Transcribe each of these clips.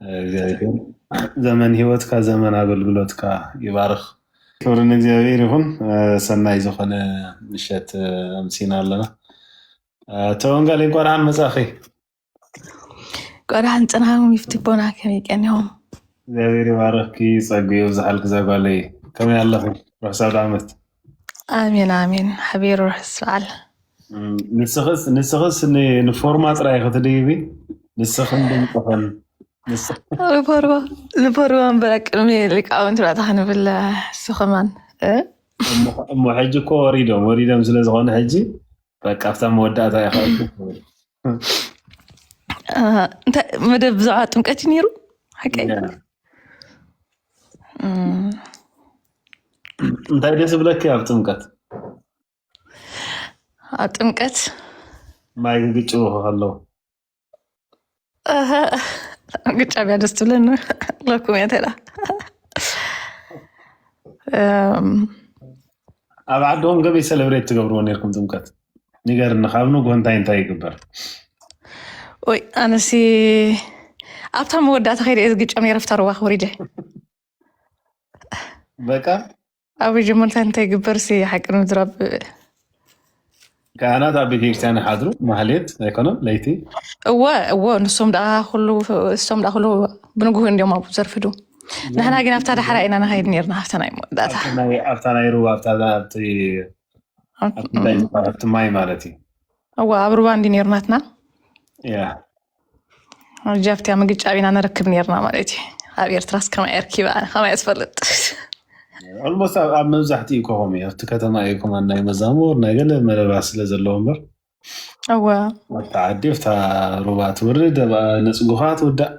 እግዚኣብሔር ዘመን ህይወትካ ዘመን ኣገልግሎትካ ይባርኽ። ክብሪ ንእግዚኣብሔር ይኹን። ሰናይ ዝኾነ ምሸት ኣምሲና ኣለና። ተወንጋሊ እንኳን ደሓን መጻኺ። ቆዳን ጽናሙ ይፍትቦና ከመይ ቀኒኹም? እግዚኣብሔር ይባርኽኪ፣ ጸጉ የብዝሓልኪ ዛጓለይ። ከመይ ኣለኹም? ርሑስ ኣውደ ዓመት። ኣሜን ኣሜን ሓቢሩ ርሑስ በዓል ንስኽስ ንስኽስ ን- ንፎርማ ጥራይ ክትድይቢ ንስኽን ድምፅኽን ንስ- ንፎርማ ንፎርማ እምበር ቅድሚ ሊቃውንቲ ባዕታ ክንብል ንሱ ከማን እ? እሞ እሞ ሕጂ እኮ ወሪዶም ወሪዶም ስለ ዝኾነ ሕጂ በቃ ኣብታ መወዳእታ ኢኻ እንታይ መደብ ብዛዕባ ጥምቀት እዩ ነይሩ ሓቀይ እንታይ ደስ ዝብለኪ ኣብ ጥምቀት ኣብ ጥምቀት ማይ ግግጭ ከለዉ ግጫ ብያ ደስ ትብለኒ ለኩም እየ ተላ ኣብ ዓድኹም ገበይ ሰለብሬት ትገብርዎ ነርኩም ጥምቀት ንገርኒ ካብ ንጎ እንታይ እንታይ ይግበር ወይ ኣነሲ ኣብታ መወዳእታ ከይደ እየ ዝግጨም ነረ ፍታ ሩባ ክብሪደ በቃ ኣብ መጀመርታ እንታይ ይግበር ሲ ሓቂ ንምዝራብ ካህናት ኣብ ቤተ ክርስቲያን ይሓድሩ ማህሌት ኣይኮነን ለይቲ እወ እወ ንሶም ደኣ ኩሉ እሶም ደኣ ኩሉ ብንግሁ እንዲዮም ኣብኡ ዘርፍዱ ንሕና ግን ኣብታ ዳሕራ ኢና ንኸይድ ነርና ሃፍተና እዩ መወዳእታ ኣብቲ ናይ- ኣብታ ናይ ሩባ ኣብታ ኣብቲ ኣብቲ እንታይ ዝበሃል ኣብቲ ማይ ማለት እዩ እወ ኣብ ሩባ እንዲ ነርናትና ያ ጃፍትያ ምግጫብ ኢና ነረክብ ነርና ማለት እዩ ኣብ ኤርትራስ ከማይ ኣርኪበ ኣነ ከማይ ትፈልጥ ኦልሞስት ኣብ መብዛሕትኡ ከኸም እዩ ኣብቲ ከተማ እዩ ከማ ናይ መዛሙር ናይ ገለ መረባት ስለ ዘለዎ እምበር እወ ኣብቲ ዓዲ ኣብታ ሩባ ትወርድ ኣብ ነፅጉኻ ትውዳእ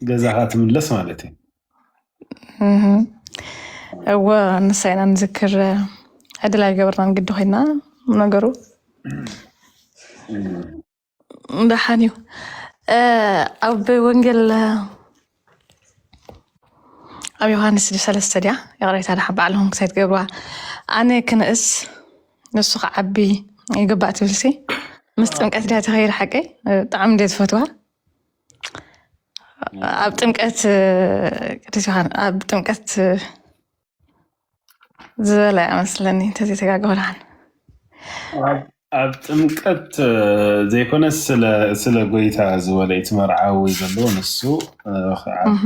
ገዛኻ ትምለስ ማለት እዩ እህ፣ እወ ንሳይና ንዝክር ዕድል ኣይገበርናን ግዲ ኮይና ነገሩ ደሓን እዩ ኣብ ወንጌል ኣብ ዮሃንስ ሰለስተ ድያ ይቕሬታ ድሓ ባዕልኹም ክሳይ ትገብርዋ ኣነ ክንእስ ንሱ ክዓቢ ይግባእ ትብልሲ ምስ ጥምቀት ድያ ተኸይድ ሓቀይ ብጣዕሚ እንደ ዝፈትዋ ኣብ ጥምቀት ቅዱስ ዮሃን ኣብ ጥምቀት ዝበለ መስለኒ እንተዘይተጋገላን ኣብ ጥምቀት ዘይኮነ ስለ ጎይታ ዝበለ እቲ መርዓዊ ዘሎ ንሱ ክዓቢ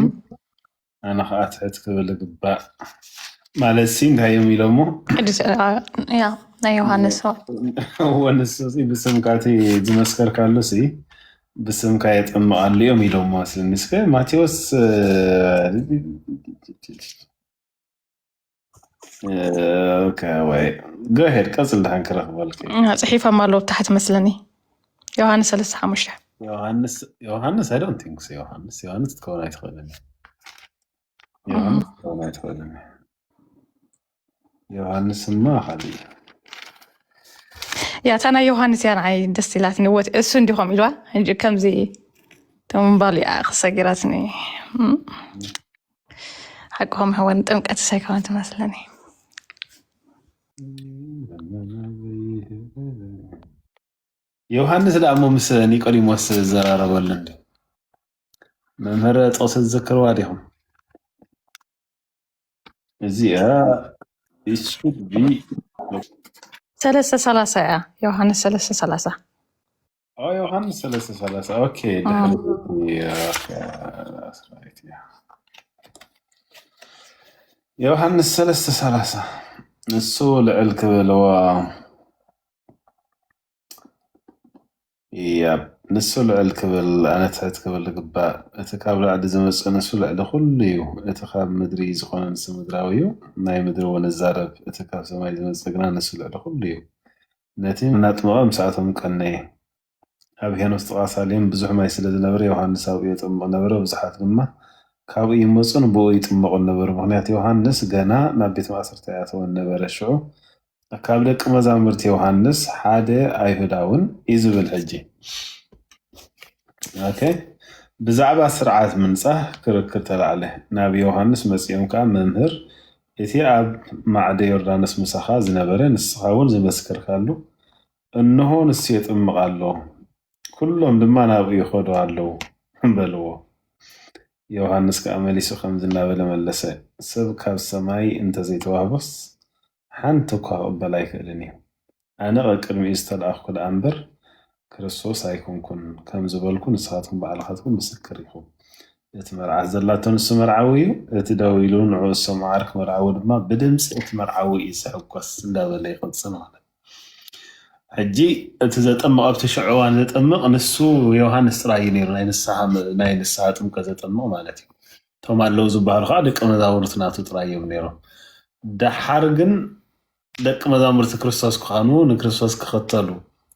ኣነ ከዓ ትሕት ክብል ግባእ ማለት ሲ እንታይ እዮም ኢሎሞ ናይ ዮሃንስ ወንሱ ብስምካቲ ዝመስከርካሉ ሲ ብስምካ የጠምቃሉ እዮም ኢሎሞ ምስከ ማቴዎስ ወይ ገሄድ ቀፅል ድሓን ክረክበልክ ፅሒፎም ኣለዉ ታሕት መስለኒ ዮሃንስ ሰለስተ ሓሙሽተ ዮሃንስ ዮሃንስ ኣይ ዶንት ቲንክ ዮሃንስ ዮሃንስ ክትከውን ኣይትኽእልን ዮሃንስ ክኸውን ኣይትኽእልን እዩ። ዮሃንስማ ካልእ እዩ። ያ እታ ናይ ዮሃንስ እያ ንዓይ ደስ ኢላትኒ ወት እሱ እንዲ ከምኡ ኢልዋ ሕጂ ከምዚ ተምባሉ እያ ክሰጊራትኒ እም። ሓቅኹም ሕወን ጥምቀት ሳይኮን ትመስለኒ ዮሃንስ ደኣ እሞ ምስ ኒቆዲሞስ ዝዘራረበሉ እንዲ መምህር ጥቕሲ ዝዝክርዋ ዲኹም? እዚኣ it should be ሰለስተ ሰላሳ እያ ዮሃንስ ሰለስተ ሰላሳ ኦ ዮሃንስ ሰለስተ ሰላሳ ኦኬ ድሕሪ ዮሃንስ ሰለስተ ሰላሳ ንሱ ልዕል ክብልዎ ያብ ንሱ ልዕል ክብል ኣነ ትሕት ክብል ዝግባእ እቲ ካብ ላዕሊ ዝመጽእ ንሱ ልዕሊ ኩሉ እዩ እቲ ካብ ምድሪ ዝኾነ ንሱ ምድራዊ እዩ ናይ ምድሪ እውን እዛረብ እቲ ካብ ሰማይ ዝመጽእ ግና ንሱ ልዕሊ ኩሉ እዩ ነቲ እናጥመቐ ምስኣቶም ቀነየ ኣብ ሄኖስ ጥቓ ሳሌም ብዙሕ ማይ ስለ ዝነበረ ዮሃንስ ኣብኡ የጠምቕ ነበረ፣ ብዙሓት ድማ ካብኡ ይመጹን ብእኡ ይጥመቑን ነበሩ፣ ምኽንያቱ ዮሃንስ ገና ናብ ቤት ማእሰርቲ ኣይኣተወን ነበረ። ሽዑ ካብ ደቂ መዛሙርቲ ዮሃንስ ሓደ ኣይሁዳውን እዩ ዝብል ሕጂ ኦኬ ብዛዕባ ስርዓት ምንጻህ ክርክር ተላዕለ። ናብ ዮሃንስ መጺኦም ከኣ መምህር እቲ ኣብ ማዕደ ዮርዳኖስ ምሳኻ ዝነበረ ንስኻ እውን ዝመስከርካሉ እንሆ ንሱ የጥምቕ ኣሎ፣ ኵሎም ድማ ናብኡ ይኸዱ ኣለዉ በልዎ። ዮሃንስ ከኣ መሊሱ ከምዚ እናበለ መለሰ፣ ሰብ ካብ ሰማይ እንተ ዘይተዋህቦስ ሓንቲ እኳ ክቕበል ኣይክእልን እዩ። ኣነ ቀቅድሚኡ ዝተላእኽኩ ደኣ እምበር፣ ክርስቶስ ኣይኰንኩን ከም ዝበልኩ ንስኻትኩም ባዕልኻትኩም ምስክር ኢኹም። እቲ መርዓት ዘላቶ ንሱ መርዓዊ እዩ፣ እቲ ደው ኢሉ ንዕኡ ዝሰምዖ ዓርኪ መርዓዊ ድማ ብድምጺ እቲ መርዓዊ እዩ ዝሕጐስ እንዳበለ ይቕጽል ማለት እዩ። ሕጂ እቲ ዘጠምቕ ኣብቲ ሽዑ እዋን ዘጠምቕ ንሱ ዮሃንስ ጥራይ እዩ ነይሩ ናይ ንስሓ ናይ ንስሓ ጥምቀት ዘጠምቕ ማለት እዩ እቶም ኣለዉ ዝበሃሉ ከዓ ደቂ መዛሙርቲ ናቱ ጥራይ እዮም ነይሮም ደሓር ግን ደቂ መዛሙርቲ ክርስቶስ ክኾኑ ንክርስቶስ ክኽተሉ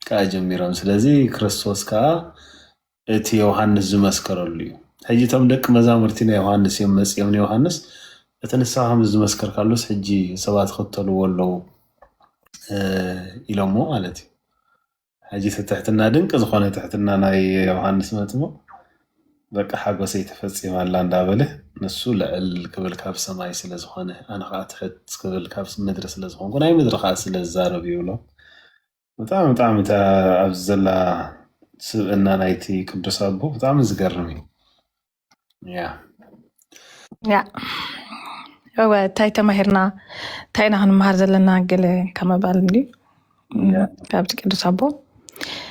ከዓ ጀሚሮም ስለዚ ክርስቶስ ከዓ እቲ ዮሃንስ ዝመስከረሉ እዩ። ሕጂ እቶም ደቂ መዛሙርቲ ናይ ዮሃንስ እዮም መጺኦም ንዮሃንስ እቲ ንስኻ ከም ዝመስከርካሉስ ሕጂ ሰባት ይኽተልዎ ኣለዉ ኢሎሞ ማለት እዩ። ሕጂ እቲ ትሕትና ድንቂ ዝኾነ ትሕትና ናይ ዮሃንስ መጥምቕ በቃ ሓጎሰይ ተፈጺማ ኣላ እንዳበለ ንሱ ልዕል ክብል ካብ ሰማይ ስለ ዝኾነ ኣነ ከዓ ትሕት ክብል ካብ ምድሪ ስለ ዝኾንኩ ናይ ምድሪ ከዓ ስለ ዝዛረብ ይብሎ ብጣዕሚ ብጣዕሚ እታ ኣብዚ ዘላ ስብእና ናይቲ ቅዱስ ኣቦ ብጣዕሚ ዝገርም እዩ ያ ያ እወ እንታይ ተማሂርና እንታይ ኢና ክንመሃር ዘለና ገለ ካብ ምባል እንድዩ ያ ካብቲ ቅዱስ ኣቦ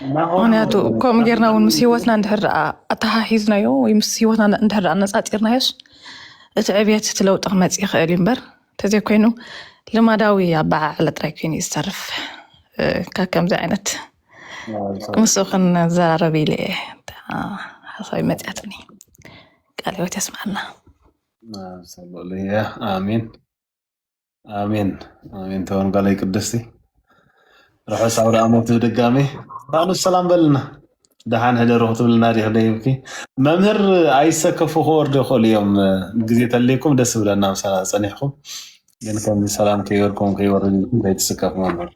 እና ኣሁን ምክንያቱ ከምኡ ጌርና እውን ምስ ህይወትና እንድሕር ደኣ ኣተሓሒዝናዮ ወይ ምስ ህይወትና እንድሕር ደኣ ኣነፃፂርናዮስ እቲ ዕብየት እቲ ለውጢ ክመፅእ ይኽእል እዩ እምበር ተዘይኮይኑ ልማዳዊ ኣበዓዕላ ጥራይ ኮይኑ እዩ ዝተርፍ ካብ ከምዚ ዓይነት ምስ ክንዘራረብ ኢለ እየ ሓሳብ መፅያትኒ ቃል ህይወት የስማዕና ሰለሉያ ኣሜን ኣሜን ኣሜን ተወንጋላይ ቅድስቲ ርሑስ ኣውደኣሞት ብድጋሚ ፋኑ ሰላም በልና ደሓን ሕደሩ ክትብልና ዲኺ ደይብኪ መምህር ኣይሰከፉ ክወርዱ ይኽእሉ እዮም ግዜ ተለይኩም ደስ ብለና ምሳና ዝፀኒሕኩም ግን ከምዚ ሰላም ከይበልኩም ከይወርድ ኢልኩም ከይትስከፉ መምህር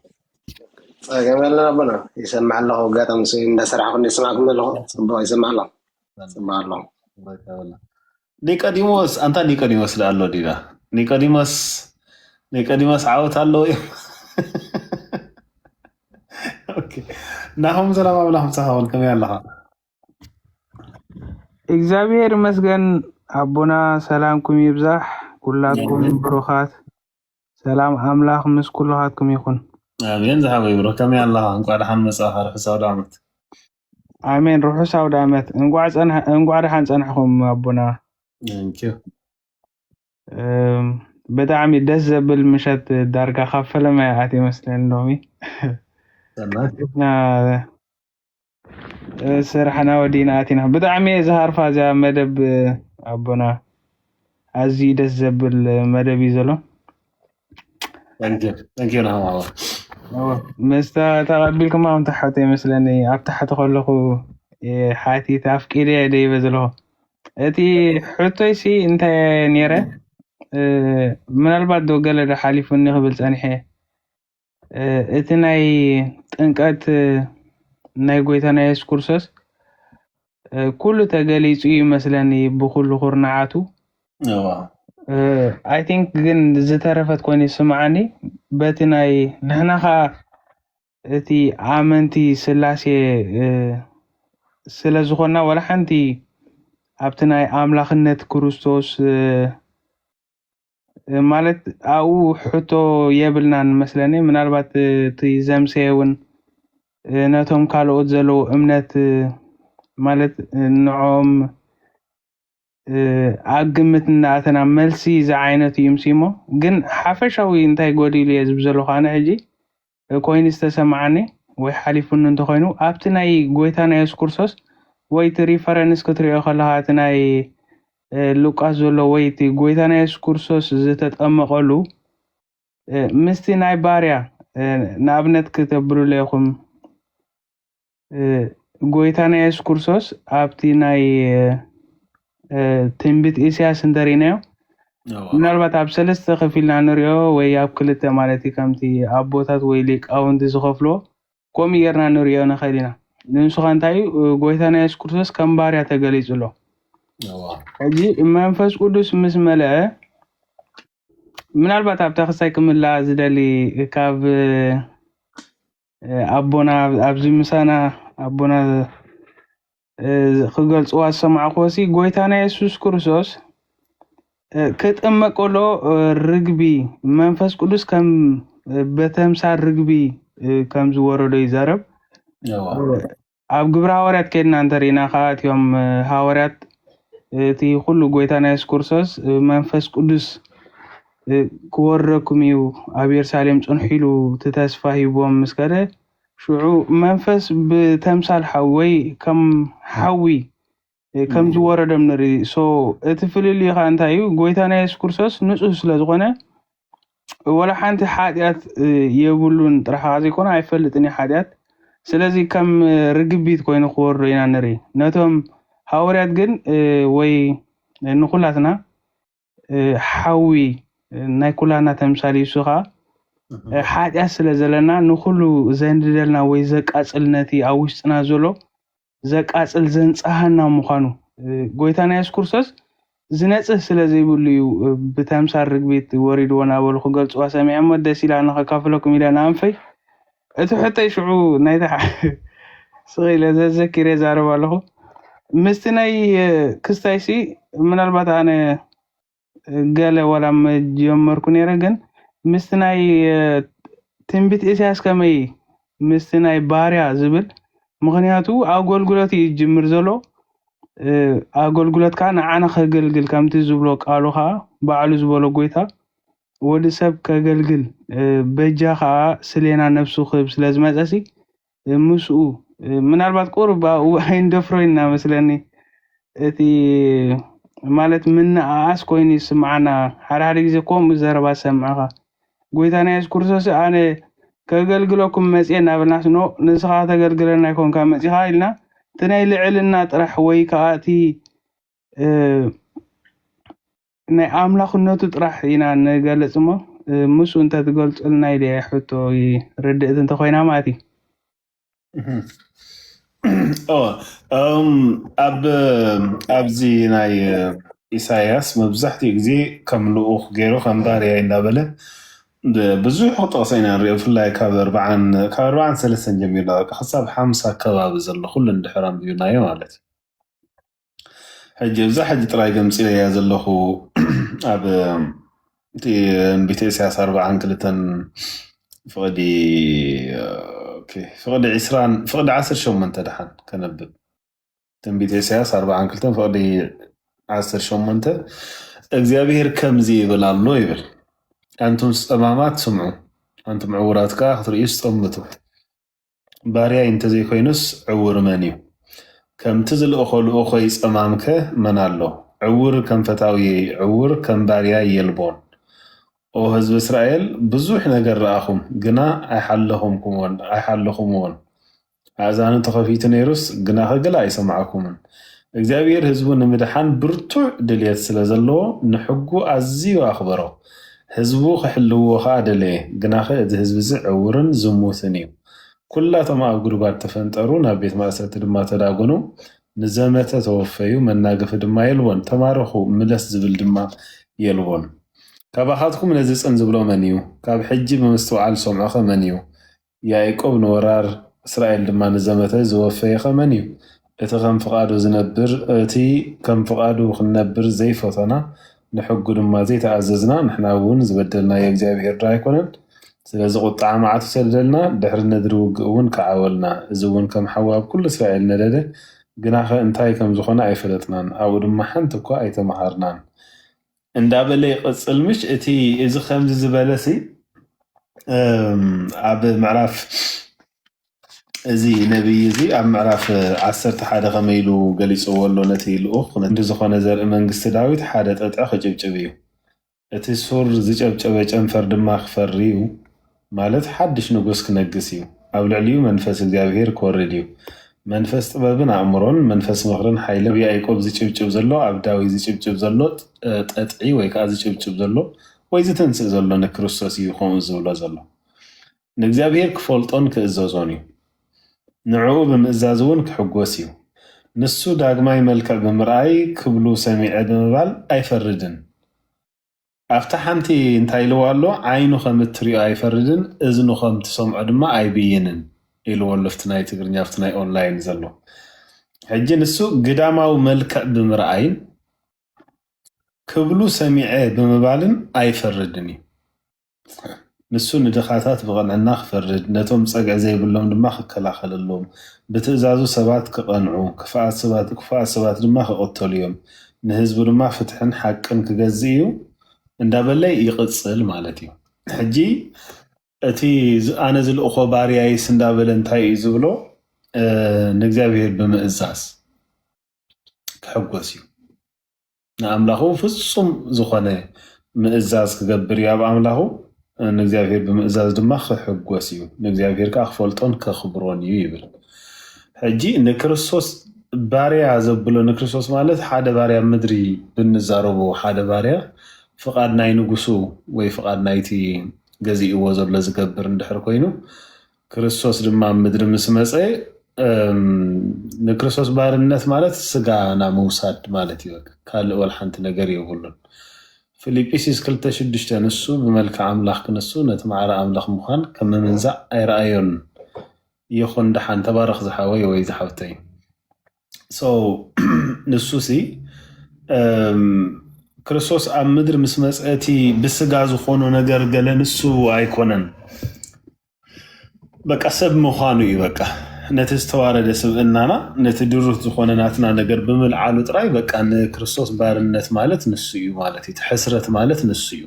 ፀገም የለን ኣቦና ይሰማዕ ኣለኹ ኣጋጣሚ ስ እንዳሰራሕኩ እንደ ስማዕኩም ዘለኹ ፅቡቅ ይሰማዕ ኣሎ ፅቡቅ ኣሎ ኒቆዲሞስ ኣንታ ኒቆዲሞስ ዶ ኣሎ ዲና ኒቆዲሞስ ኒቆዲሞስ ዓወት ኣለዎ እዩ ናኹም ሰላም ኣምላኽ ምሳኻውን ከመይ ኣለኻ እግዚኣብሔር ይመስገን ኣቦና ሰላምኩም ይብዛሕ ኩላትኩም ብሩኻት ሰላም ኣምላኽ ምስ ኩልኻትኩም ይኹን። ኣሜን ዝሓወይ ብሮ ከመይ ኣለኻ? እንቋዕ ደሓን መጻኻ ርሑስ ኣውደኣመት። ኣሜን ርሑስ ኣውደኣመት። እንቋዕ ጸንሐ እንቋዕ ደሓን ጸንሕኩም ኣቦና። ንኪዩ እም፣ ብጣዕሚ ደስ ዘብል ምሸት ዳርጋ ካብ ፈለማ ይኣት ይመስለኒ ሎሚ ሰናይ እና ስራሕና ወዲእና ኣቲና ብጣዕሚ እየ ዝሃርፋ እዚኣ መደብ ኣቦና ኣዝዩ ደስ ዘብል መደብ እዩ ዘሎ መስታ ተቐቢልኩም ኣም ተሓቶ ይመስለኒ ኣብ ታሕቲ ከለኹ ሓቲት ኣፍቂደ እየ ደይበ ዘለኹ እቲ ሕቶይሲ እንታይ ነይረ ምናልባት ዶ ገለ ዶ ሓሊፉኒ ክብል ፀኒሐ እቲ ናይ ጥምቀት ናይ ጎይታና የሱስ ክርስቶስ ኩሉ ተገሊጹ እዩ መስለኒ ብኩሉ ኩርናዓቱ ኣይ ቲንክ ግን ዝተረፈት ኮይኑ ይስምዓኒ በቲ ናይ ንሕና ከዓ እቲ ኣመንቲ ስላሴ ስለ ዝኾንና ዋላ ሓንቲ ኣብቲ ናይ ኣምላኽነት ክርስቶስ ማለት ኣብኡ ሕቶ የብልናን መስለኒ ምናልባት እቲ ዘምሰየ እውን ነቶም ካልኦት ዘለዎ እምነት ማለት ንዖም ኣብ ግምት እናኣተና መልሲ ዝዓይነቱ እዩ ምሲሞ ግን ሓፈሻዊ እንታይ ጎዲሉ እየ ዝብ ዘለኹ ኣነ ሕጂ ኮይኑ ዝተሰምዓኒ ወይ ሓሊፉኒ እንተኾይኑ ኣብቲ ናይ ጎይታና የሱስ ክርስቶስ ወይ እቲ ሪፈረንስ ክትሪኦ ከለኻ እቲ ናይ ሉቃስ ዘሎ ወይ እቲ ጎይታና የሱስ ክርስቶስ ዝተጠመቐሉ ምስቲ ናይ ባርያ ንኣብነት ክተብሉለ ኢኹም ጎይታና የሱስ ክርስቶስ ኣብቲ ናይ ትንቢት ኢሳያስ እንተሪእናዮ ምናልባት ኣብ ሰለስተ ከፊልና ንሪኦ ወይ ኣብ ክልተ ማለት እዩ ከምቲ ኣቦታት ወይ ሊቃውንቲ ዝኸፍልዎ ከምኡ ጌርና ንሪኦ ንኽእል ኢና ንሱ ኸ እንታይ እዩ ጎይታና የሱስ ክርስቶስ ከም ባርያ ተገሊጹ ኣሎ ሕጂ መንፈስ ቅዱስ ምስ መለአ ምናልባት ኣብታ ክሳይ ክምላ ዝደሊ ካብ ኣቦና ኣብዚ ምሳና ኣቦና ክገልጽዋ ዝሰማዕክዎሲ ጎይታና የሱስ ክርስቶስ ክጥመቅ ከሎ ርግቢ መንፈስ ቅዱስ ከም በተምሳል ርግቢ ከም ዝወረዶ ይዛረብ ኣብ ግብሪ ሃዋርያት ከድና እንተርኢና ከኣ እቲኦም ሃዋርያት እቲ ኩሉ ጎይታና የሱስ ክርስቶስ መንፈስ ቅዱስ ክወርደኩም እዩ ኣብ የሩሳሌም ጽንሑ ኢሉ እቲ ተስፋ ሂብዎም ምስ ከደ ሽዑ መንፈስ ብተምሳል ሓዊ ወይ ከም ሓዊ ከም ዝወረዶም ንርኢ ሶ እቲ ፍልልዩ ከዓ እንታይ እዩ ጎይታና የሱስ ክርስቶስ ንፁህ ስለ ዝኾነ ወላ ሓንቲ ሓጢኣት እ፣ የብሉን ጥራሕ ከዓ ዘይኮነ ኣይፈልጥን እዩ ሓጢኣት ስለዚ ከም እ፣ ርግቢት ኮይኑ ክወርዶ ኢና ንርኢ ነቶም ሃዋርያት ግን እ፣ ወይ እ፣ ንኩላትና እ፣ ሓዊ እ፣ ናይ ኩላትና ተምሳል እዩ እሱ ከዓ እ፣ ሓጢኣት ስለ ዘለና ንኩሉ ዘንድደልና ወይ ዘቃፅል ነቲ ኣብ ውሽጥና ዘሎ ዘቃጽል ዘንጽሃና ምዃኑ ጎይታና የሱስ ክርስቶስ ዝነጽህ ስለ ዘይብሉ እዩ ብተምሳል ርግቢት ወሪድዎ ናበሉ ክገልጽዋ ሰሚዐሞ ደስ ኢላኒ ከካፍለኩም ኢለ ንኣንፈይ እቲ ሕቶይ ሽዑ ናይታ ስቕ ኢለ ዘዘኪረ ዛረብ ኣለኹ ምስቲ ናይ ክስታይሲ ምናልባት ኣነ ገለ ወላ መጀመርኩ ነይረ ግን ምስቲ ናይ ትንቢት ኢሳያስ ከመይ ምስቲ ናይ ባርያ ዝብል ምክንያቱ ኣገልግሎት እዩ ዝጅምር ዘሎ ኣገልግሎት ከዓ ንዓና ከገልግል ከምቲ ዝብሎ ቃሉ ከዓ ባዕሉ ዝበሎ ጎይታ ወዲ ሰብ ከገልግል በጃ ከዓ ስሌና ነብሱ ክህብ ስለዝመፀሲ ምስኡ ምናልባት ቁሩብ ኣብኡ ኣይንደፍሮይ እና መስለኒ እቲ ማለት ምንኣኣስ ኮይኑ ይስምዓና ሓደ ሓደ ግዜ ከምኡ ዘረባ ዝሰምዕኻ ጎይታና የሱስ ክርስቶስ ኣነ ከገልግለኩም መጽኤ እናበልናስ ኖ ንስኻ ከተገልግለና ኣይኮንካ መጺኻ ኢልና እቲ ናይ ልዕልና ጥራሕ ወይ ከዓ እቲ ናይ ኣምላኽነቱ ጥራሕ ኢና ንገልጽ እሞ ምስኡ እንተትገልጹልና ኢለ ሕቶ ርድእት እንተኮይና ማለት እዩ ኣብዚ ናይ ኢሳያስ መብዛሕትኡ ግዜ ከም ልኡኽ ገይሩ ከም ባርያ እንዳበለ ብዙሕ ክጠቕሰ ኢና ንሪኦ ብፍላይ ካብ ኣርባዓን ካብ ኣርባዓን ሰለስተን ጀሚርና በቃ ክሳብ ሓምሳ ከባቢ ዘሎ ኩሉ እንድሕር ኣንቢብናዮ ማለት እዩ ሕጂ እብዛ ሕጂ ጥራይ ገምጺለያ ዘለኹ ኣብ እቲ እምቢተ ኢሳያስ ኣርብዓን ክልተን ፍቕዲ ኦኬ፣ ፍቕዲ ዕስራን ፍቕዲ ዓሰርተ ሸሞንተ ድሓን ከነብብ ትንቢተ ኢሳያስ ኣርብዓን ክልተን ፍቕዲ ዓሰርተ ሸሞንተ እግዚኣብሄር ከምዚ ይብል ኣሎ ይብል ኣንቱም ጸማማት ስምዑ ኣንቱም ዕውራት ከኣ ክትርእዩ ስጠምቱ ባርያይ እንተዘይኮይኑስ ዕዉር መን እዩ? ከምቲ ዝልእኾ ልኡኾይ ጸማምከ መን ኣሎ? ዕዉር ከም ፈታውየይ፣ ዕዉር ከም ባርያይ የልቦን። ኦ ህዝቢ እስራኤል፣ ብዙሕ ነገር ረኣኹም፣ ግና ኣይሓለኹምዎን። ኣእዛኑ ተኸፊቱ ነይሩስ፣ ግናኸ ገለ ኣይሰማዕኩምን። እግዚኣብሄር ህዝቡ ንምድሓን ብርቱዕ ድልየት ስለ ዘለዎ፣ ንሕጉ ኣዝዩ ኣኽበሮ። ህዝቡ ክሕልውዎ ከኣ ደለየ ግናኸ እዚ ህዝቢዚ ዕውርን ዝሙትን እዩ። ኩላቶም ኣብ ጉድጓድ ተፈንጠሩ ናብ ቤት ማእሰርቲ ድማ ተዳጎኑ። ንዘመተ ተወፈዩ መናገፊ ድማ የልቦን። ተማረኹ ምለስ ዝብል ድማ የልቦን። ካባኻትኩም ነዚ ጽን ዝብሎ መን እዩ? ካብ ሕጂ ብምስትውዓል ዝሰምዖኸ መን እዩ? ያእቆብ ንወራር እስራኤል ድማ ንዘመተ ዝወፈየኸ መን እዩ? እቲ ከም ፍቓዱ ዝነብር እቲ ከም ፍቓዱ ክንነብር ዘይፈቶና ንሕጉ ድማ ዘይተኣዘዝና ንሕና እውን ዝበደልናዮ እግዚኣብሄር ዶ ኣይኮነን ስለዚ ቁጥዓ መዓቱ ሰደደልና ድሕሪ ነድሪ ውግእ እውን ከዓወልና እዚ እውን ከም ሓዊ ኣብ ኩሉ እስራኤል ነደደ ግናኸ እንታይ ከምዝኾነ ኣይፈለጥናን ኣብኡ ድማ ሓንቲ እኳ ኣይተመሃርናን እንዳበለ ይቕጽል ምሽ እቲ እዚ ከምዚ ዝበለ ሲ እም፣ ኣብ ምዕራፍ እዚ ነቢይ እዚ ኣብ ምዕራፍ ዓሰርተ ሓደ ከመይ ኢሉ ገሊጽዎ ኣሎ ነቲ ልኡኽ ነቲ ዝኾነ ዘርኢ መንግስቲ ዳዊት ሓደ ጠጥዒ ክጭብጭብ እዩ እቲ ሱር ዝጨብጨበ ጨንፈር ድማ ክፈሪ እዩ ማለት ሓድሽ ንጉስ ክነግስ እዩ፣ ኣብ ልዕሊኡ መንፈስ እግዚኣብሄር ክወርድ እዩ፣ መንፈስ ጥበብን ኣእምሮን፣ መንፈስ ምኽርን ሓይልን፣ ኣብ ያኢቆብ ዝጭብጭብ ዘሎ፣ ኣብ ዳዊት ዝጭብጭብ ዘሎ ጠጥዒ ወይ ከኣ ዝጭብጭብ ዘሎ ወይ ዝትንስእ ዘሎ ንክርስቶስ እዩ ከምኡ ዝብሎ ዘሎ። ንእግዚኣብሄር ክፈልጦን ክእዘዞን እዩ። ንዕኡ ብምእዛዝ እውን ክሕጎስ እዩ። ንሱ ዳግማይ መልክዕ ብምርኣይ ክብሉ ሰሚዐ ብምባል ኣይፈርድን። ኣብታ ሓንቲ እንታይ ኢልዎ ኣሎ ዓይኑ ከም እትሪኦ ኣይፈርድን እዝኑ ከም ትሰምዖ ድማ ኣይብይንን ኢልዎ ኣሎ ኣብቲ ናይ ትግርኛ ኣብቲ ናይ ኦንላይን ዘሎ ሕጂ ንሱ ግዳማዊ መልክዕ ብምርኣይን ክብሉ ሰሚዐ ብምባልን ኣይፈርድን እዩ ንሱ ንድኻታት ብቕንዕና ኺፈርድ፣ ነቶም ጸግዒ ዘይብሎም ድማ ኺከላኸለሎም፣ ብትእዛዙ ሰባት ኪቐንዑ፣ ክፉኣት ሰባት ድማ ኪቕተሉ እዮም፣ ንህዝቡ ድማ ፍትሕን ሓቅን ኪገዝእ እዩ፣ እንዳ በለ ይቕጽል ማለት እዩ። ሕጂ እቲ ኣነ ዝልእኾ ባርያይስ እንዳ በለ እንታይ እዩ ዝብሎ? ንእግዚኣብሄር ብምእዛዝ ክሕጐስ እዩ። ንኣምላኹ ፍጹም ዝኾነ ምእዛዝ ክገብር እዩ ኣብ ኣምላኹ ንእግዚኣብሔር ብምእዛዝ ድማ ክሕጎስ እዩ ንእግዚኣብሔር ከዓ ክፈልጦን ከኽብሮን እዩ ይብል ሕጂ ንክርስቶስ ባርያ ዘብሎ ንክርስቶስ ማለት ሓደ ባርያ ምድሪ ብንዛረቦ ሓደ ባርያ ፍቓድ ናይ ንጉሱ ወይ ፍቓድ ናይቲ ገዚእዎ ዘሎ ዝገብር እንድሕር ኮይኑ ክርስቶስ ድማ ኣብ ምድሪ ምስ መፀ ንክርስቶስ ባርነት ማለት ስጋና ምውሳድ ማለት እዩ። ካልእ ወላ ሓንቲ ነገር የብሉን። ፊልጵስዩስ ክልተ ሽዱሽተ ንሱ ብመልክዕ ኣምላኽ ክንሱ ነቲ ማዕረ ኣምላኽ ምዃን ከም ምምንዛዕ ኣይረኣዮን። ይኹን ደሓን ተባረኽ ዝሓወይ ወይ ዝሓፍተይ። ንሱ ሲ ክርስቶስ ኣብ ምድሪ ምስ መፀ እቲ ብስጋ ዝኾኖ ነገር ገለ ንሱ ኣይኮነን። በቃ ሰብ ምዃኑ እዩ በቃ ነቲ ዝተዋረደ ስብእናና ነቲ ድሩት ዝኾነ ናትና ነገር ብምልዓሉ ጥራይ በቃ ንክርስቶስ ባርነት ማለት ንሱ እዩ ማለት እዩ። እቲ ሕስረት ማለት ንሱ እዩ።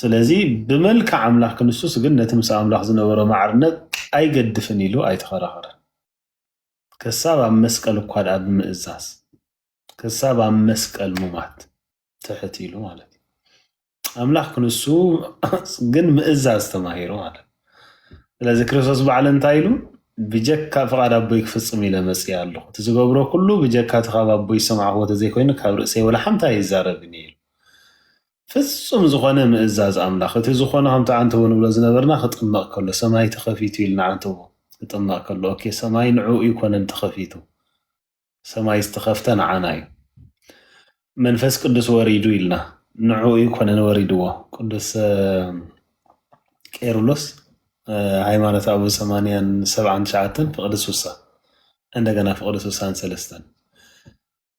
ስለዚ ብመልክዕ ኣምላኽ ክንሱስ ግን ነቲ ምስ ኣምላኽ ዝነበሮ ማዕርነት ኣይገድፍን ኢሉ ኣይተኸራኸረን። ከሳብ ኣብ መስቀል እኳ ድኣ ብምእዛዝ ክሳብ ኣብ መስቀል ሙማት ትሕት ኢሉ ማለት እዩ። ኣምላኽ ክንሱ ግን ምእዛዝ ተማሂሩ ማለት እዩ። ስለዚ ክርስቶስ ባዕሉ እንታይ ኢሉ ብጀካ ፍቓድ ኣቦይ ክፍጽም ኢለ መጽኣ ኣለኹ እቲ ዝገብሮ ኩሉ ብጀካ እቲ ካብ ኣቦይ ዝሰማዕክዎ ተዘይኮይኑ ካብ ርእሰይ ወላ ሓንቲ ኣይዛረብን ኢሉ ፍጹም ዝኾነ ምእዛዝ ኣምላኽ እቲ ዝኾነ ከምቲ ዓንተቦ ንብሎ ዝነበርና ክጥመቕ ከሎ ሰማይ ተኸፊቱ ኢልና ዓንተቦ ክጥመቕ ከሎ ኦኬ ሰማይ ንዕኡ ይኮነን ተኸፊቱ ሰማይ ዝተኸፍተ ንዓና እዩ መንፈስ ቅዱስ ወሪዱ ኢልና ንዕኡ ይኮነን ወሪድዎ ቅዱስ ቄርሎስ ሃይማኖት ኣቡ ሰማንያን ሰብዓን ትሽዓተን ፍቅዲ ሱሳ እንደገና ፍቅዲ ሱሳን ሰለስተን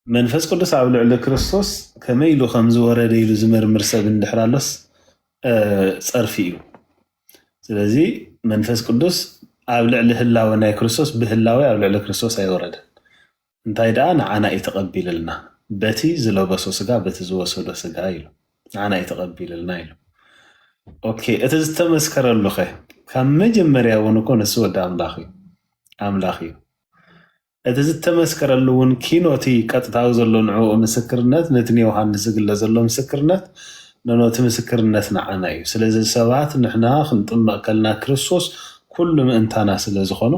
መንፈስ ቅዱስ ኣብ ልዕሊ ክርስቶስ ከመይ ኢሉ ከም ዝወረደ ኢሉ ዝምርምር ሰብ እንድሕር ኣሎስ ጸርፊ እዩ። ስለዚ መንፈስ ቅዱስ ኣብ ልዕሊ ህላወ ናይ ክርስቶስ ብህላዌ ኣብ ልዕሊ ክርስቶስ ኣይወረደን። እንታይ ደኣ ንዓና እዩ ተቐቢልልና በቲ ዝለበሶ ስጋ በቲ ዝወሰዶ ስጋ ኢሉ ንዓና እዩ ተቐቢልልና ኢሉ። ኦኬ እቲ ዝተመስከረሉ ኸ ካብ መጀመርያ እውን እኮ ንሱ ወዲ ኣምላኽ እዩ ኣምላኽ እዩ። እቲ ዝተመስከረሉ እውን ኪኖ እቲ ቀጥታዊ ዘሎ ንዕኡ ምስክርነት ነቲ ንዮሃንስ ዝግለጽ ዘሎ ምስክርነት ንኖ እቲ ምስክርነት ንዓና እዩ ስለዚ ሰባት ንሕና ክንጥመቅ ከልና ክርስቶስ ኩሉ ምእንታና ስለ ዝኾኑ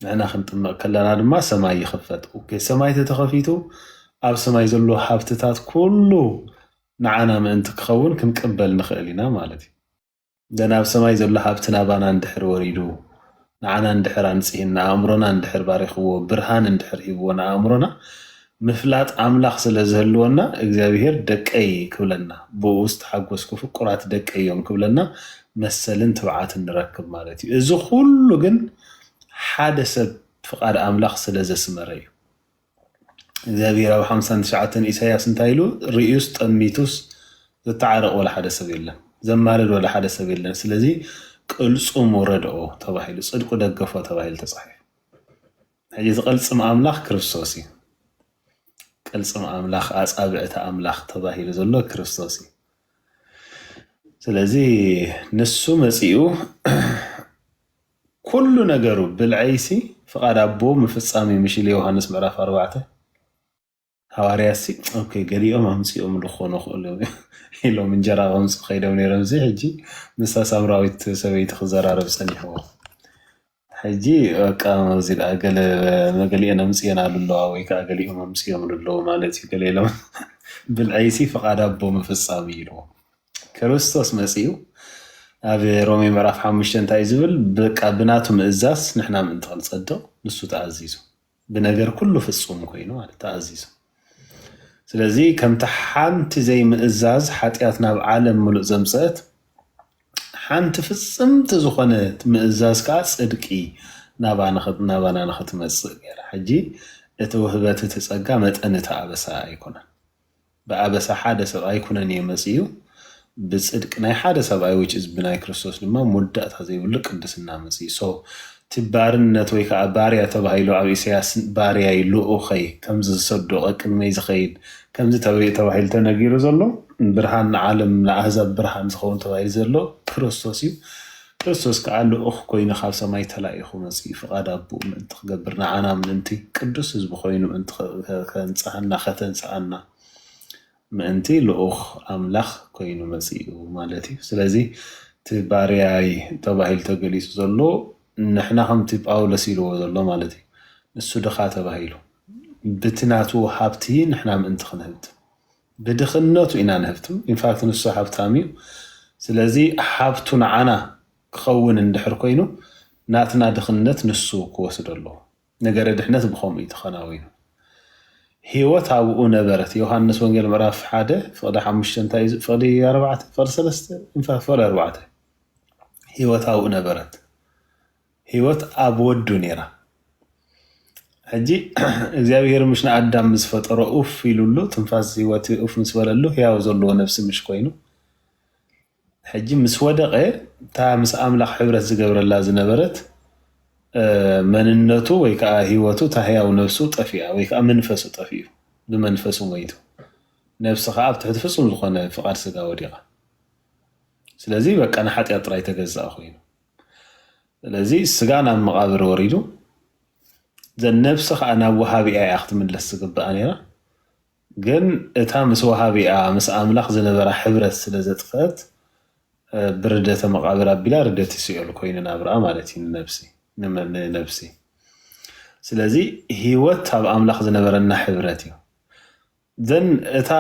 ንሕና ክንጥመቅ ከለና ድማ ሰማይ ይኽፈት ኦኬ ሰማይ ተተኸፊቱ ኣብ ሰማይ ዘሎ ሃብትታት ኩሉ ንዓና ምእንቲ ክኸውን ክንቅበል ንኽእል ኢና ማለት እዩ ዘን ኣብ ሰማይ ዘሎ ሃብቲ ናባና እንድሕር ወሪዱ ንዓና እንድሕር ኣንጽሂን ንኣእምሮና እንድሕር ባሪኽዎ ብርሃን እንድሕር ሂብዎ ንኣእምሮና ምፍላጥ ኣምላኽ ስለ ዝህልወና እግዚኣብሄር ደቀይ ክብለና ብኡ ዝተሓጎስኩ ፍቁራት ደቀይ እዮም ክብለና መሰልን ትብዓትን ንረክብ ማለት እዩ። እዚ ኩሉ ግን ሓደ ሰብ ፍቃድ ኣምላኽ ስለ ዘስመረ እዩ። እግዚኣብሄር ኣብ ሓምሳን ትሽዓተን ኢሳያስ እንታይ ኢሉ ርእዩስ ጠሚቱስ ዘተዓረቕ ወላ ሓደ ሰብ የለን፣ ዘማልድ ወላ ሓደ ሰብ የለን። ስለዚ ቅልጹሙ ረድኦ ተባሂሉ፣ ጽድቁ ደገፎ ተባሂሉ ተጻሒፉ። ሕጂ እዚ ቅልጽም ኣምላኽ ክርስቶስ እዩ። ቅልጽም ኣምላኽ ኣጻብዕቲ ኣምላኽ ተባሂሉ ዘሎ ክርስቶስ እዩ። ስለዚ ንሱ መጺኡ ኩሉ ነገሩ ብልዐይሲ ፍቃድ ኣቦ ምፍጻም እዩ ምሽ ኢሉ ዮውሃንስ ምዕራፍ ኣርባዕተ ሃዋርያሲ ኦኬ ገሊኦም ኣምጺኦምሉ ክኾኑ ክእሉ ኢሎም እንጀራ ከምጽኡ ከይዶም ነይሮምሲ ሕጂ ምስታ ሳምራዊት ሰበይቲ ክዘራረብ ጸኒሕዎ ሕጂ በቃ ኣብዚ ደኣ ገለ መገሊኤን ኣምጽኤናሉ ኣለዋ ወይ ከዓ ገሊኦም ኣምጽኦምሉ ኣለዉ ማለት እዩ ገለ ኢሎም ብልዐይሲ ፍቃድ ኣቦ ምፍጻም እዩ ኢልዎ ክርስቶስ መጺኡ ኣብ ሮሜ ምዕራፍ ሓሙሽተ እንታይ እዩ ዝብል? በቃ ብናቱ ምእዛዝ ንሕና ምእንቲ ክንጸድቕ ንሱ ተኣዚዙ ብነገር ኩሉ ፍጹም ኮይኑ ማለት ተኣዚዙ። ስለዚ ከምቲ ሓንቲ ዘይምእዛዝ ሓጢኣት ናብ ዓለም ምሉእ ዘምጽአት ሓንቲ ፍጽምቲ ዝኾነት ምእዛዝ ከዓ ጽድቂ ናባና ንኽትመጽእ ገይራ። ሕጂ እቲ ውህበት እቲ ጸጋ መጠን እቲ ኣበሳ ኣይኮነን። ብኣበሳ ሓደ ሰብኣይ ኩነኔ መጺኡ፣ ብጽድቂ ናይ ሓደ ሰብኣይ which is ብናይ ክርስቶስ ድማ መወዳእታ ዘይብሉ ቅድስና መጺኡ። So እቲ ባርነት ወይ ከኣ ባርያ ተባሂሉ ኣብ ኢሰያስ ባርያይ ልኡኸይ ከምዚ ዝሰዶ ቀቅድመይ ዝኸይድ ከምዚ ተበይ ተባሂሉ ተነጊሩ ዘሎ ብርሃን ንዓለም ንኣህዛብ ብርሃን ዝኸውን ተባሂሉ ዘሎ ክርስቶስ እዩ። ክርስቶስ ከኣ ልኡኽ ኮይኑ ካብ ሰማይ ተላኢኹ መጺኡ ፍቓድ ኣቦኡ ምእንቲ ክገብር ንዓና ምእንቲ ቅዱስ ህዝቢ ኮይኑ ምእንቲ ከንጽሃና ከተንስኣና ምእንቲ ልኡኽ ኣምላኽ ኮይኑ መጺኡ ማለት እዩ ስለዚ እቲ ባርያይ ተባሂሉ ተገሊጹ ዘሎ ንሕና ከምቲ ጳውሎስ ኢልዎ ዘሎ ማለት እዩ ንሱ ድኻ ተባሂሉ ብቲ ናቱ ሃብቲ ንሕና ምእንቲ ክንህብት ብድኽነቱ ኢና ንህብትም ኢንፋክት ንሱ ሃብታም እዩ ስለዚ ሃብቱ ንዓና ክኸውን እንድሕር ኮይኑ ናትና ድኽነት ንሱ ክወስዶ ኣለዎ ነገረ ድሕነት ብኸምኡ እዩ ተኸናዊኑ ህይወት ኣብኡ ነበረት ዮሃንስ ወንጌል ምዕራፍ ሓደ ፍቕዲ ሓሙሽተ እንታይ እዩ ፍቕዲ ኣርባዕተ ፍቕዲ ሰለስተ ኢንፋክት ፍቕዲ ኣርባዕተ ህይወት ኣብኡ ነበረት ህይወት ኣብ ወዱ ነይራ ሕጂ እግዚኣብሄር ምሽ ንኣዳም ምስ ፈጠሮ ኡፍ ኢሉሉ ትንፋስ ህይወት ኡፍ ምስ በለሉ ህያው ዘለዎ ነፍሲ ምሽ ኮይኑ ሕጂ ምስ ወደቐ እታ ምስ ኣምላኽ ሕብረት ዝገብረላ ዝነበረት መንነቱ ወይ ከዓ ህይወቱ እታ ህያው ነፍሱ ጠፊኣ ወይ ከዓ መንፈሱ ጠፊኡ ብመንፈሱ ሞይቱ ነፍሲ ከዓ ኣብ ትሕቲ ፍጹም ዝኾነ ፍቓድ ስጋ ወዲቓ ስለዚ በቃ ንሓጢኣት ጥራይ ተገዛእ ኮይኑ ስለዚ ስጋ ናብ መቓብር ወሪዱ ዘነብሲ ከዓ ናብ ወሃቢኣ እያ ክትምለስ ዝግብኣ ነይራ ግን እታ ምስ ወሃቢኣ ምስ ኣምላኽ ዝነበራ ሕብረት ስለ ዘጥፍአት ብርደተ መቓብር ኣቢላ ርደት ይስኦል ኮይኑ ናብርኣ ማለት እዩ ንነብሲ ንነብሲ ስለዚ ህይወት ኣብ ኣምላኽ ዝነበረና ሕብረት እዩ ዘን እታ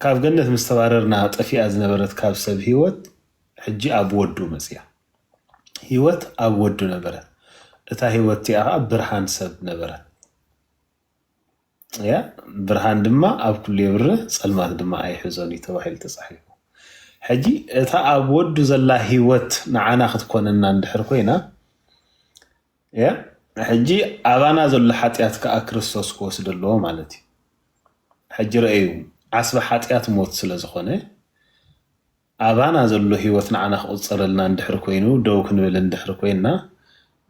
ካብ ገነት ምስ ተባረርና ጠፊኣ ዝነበረት ካብ ሰብ ህይወት ሕጂ ኣብ ወዱ መጽያ። ህይወት ኣብ ወዱ ነበረት፣ እታ ህይወት እቲኣ ኸኣ ብርሃን ሰብ ነበረት። እያ ብርሃን ድማ ኣብ ኩሉ የብርህ ጸልማት ድማ ኣይሕዞን እዩ ተባሂሉ ተጻሒፉ። ሕጂ እታ ኣብ ወዱ ዘላ ህይወት ንዓና ክትኮነና እንድሕር ኮይና እያ ሕጂ ኣባና ዘሎ ሓጢኣት ከኣ ክርስቶስ ክወስዶ ኣለዎ ማለት እዩ ሕጂ ረኣዩ ዓስቢ ሓጢኣት ሞት ስለ ዝኾነ ኣባና ዘሎ ህይወት ንዓና ክቑጸረልና እንድሕሪ ኮይኑ ደው ክንብል እንድሕሪ ኮይንና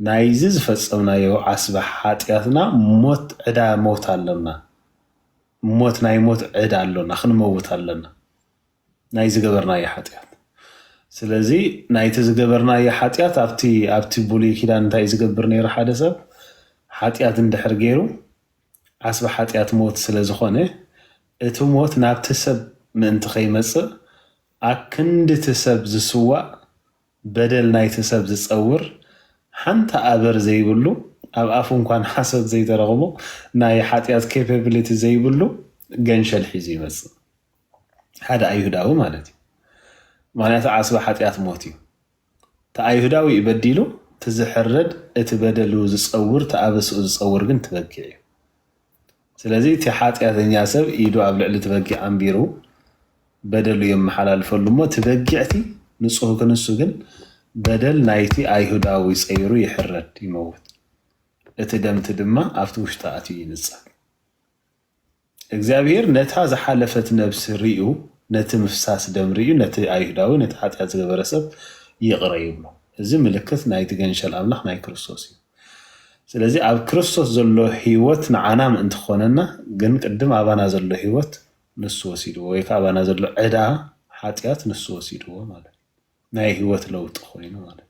ናይዚ ዝፈጸምናዮ ዓስቢ ሓጢኣትና ሞት ዕዳ ሞት ኣሎና ሞት ናይ ሞት ዕዳ ኣሎና ክንመውት ኣሎና ናይ ዝገበርናዮ ሓጢኣት ስለዚ ናይቲ ዝገበርናዮ ሓጢኣት ኣብቲ ኣብቲ ብሉይ ኪዳን እንታይ እዩ ዝገብር ነይሩ ሓደ ሰብ ሓጢኣት እንድሕር ገይሩ ዓስቢ ሓጢኣት ሞት ስለ ዝኾነ እቲ ሞት ናብቲ ሰብ ምእንቲ ከይመጽእ ኣክንዲ እቲ ሰብ ዝስዋእ በደል ናይቲ ሰብ ዝጸውር ሓንቲ ኣበር ዘይብሉ ኣብ ኣፉ እንኳን ሓሶት ዘይተረኽቦ ናይ ሓጢኣት ኬፐብሊቲ ዘይብሉ ገንሸል ሒዙ ይመጽእ ሓደ ኣይሁዳዊ ማለት እዩ ምክንያቱ ዓስቢ ሓጢኣት ሞት እዩ እቲ ኣይሁዳዊ እዩ በዲሉ እቲ ዝሕረድ እቲ በደሉ ዝፀውር እቲ ኣበስኡ ዝፀውር ግን ትበጊዕ እዩ ስለዚ እቲ ሓጢኣተኛ ሰብ ኢዱ ኣብ ልዕሊ ትበጊዕ ኣንቢሩ በደሉ የመሓላልፈሉ እሞ ትበጊዕቲ ንፁህ ክንሱ ግን በደል ናይቲ ኣይሁዳዊ ፀይሩ ይሕረድ ይመውት እቲ ደምቲ ድማ ኣብቲ ውሽጢ ኣትዩ ይንፀግ እግዚኣብሄር ነታ ዝሓለፈት ነብሲ ሪኡ ነቲ ምፍሳስ ደም ሪኡ ነቲ ኣይሁዳዊ ነቲ ሓጢኣት ዝገበረ ሰብ ይቕረ ይብሎ እዚ ምልክት ናይቲ ገንሸል ኣምላኽ ናይ ክርስቶስ እዩ ስለዚ ኣብ ክርስቶስ ዘሎ ህይወት ንዓና ምእንቲ ክኾነና ግን ቅድም ኣባና ዘሎ ህይወት ንሱ ወሲድዎ ወይ ከዓ ኣባና ዘሎ ዕዳ ሓጢኣት ንሱ ወሲድዎ ማለት ናይ ህይወት ለውጢ ኮይኑ ማለት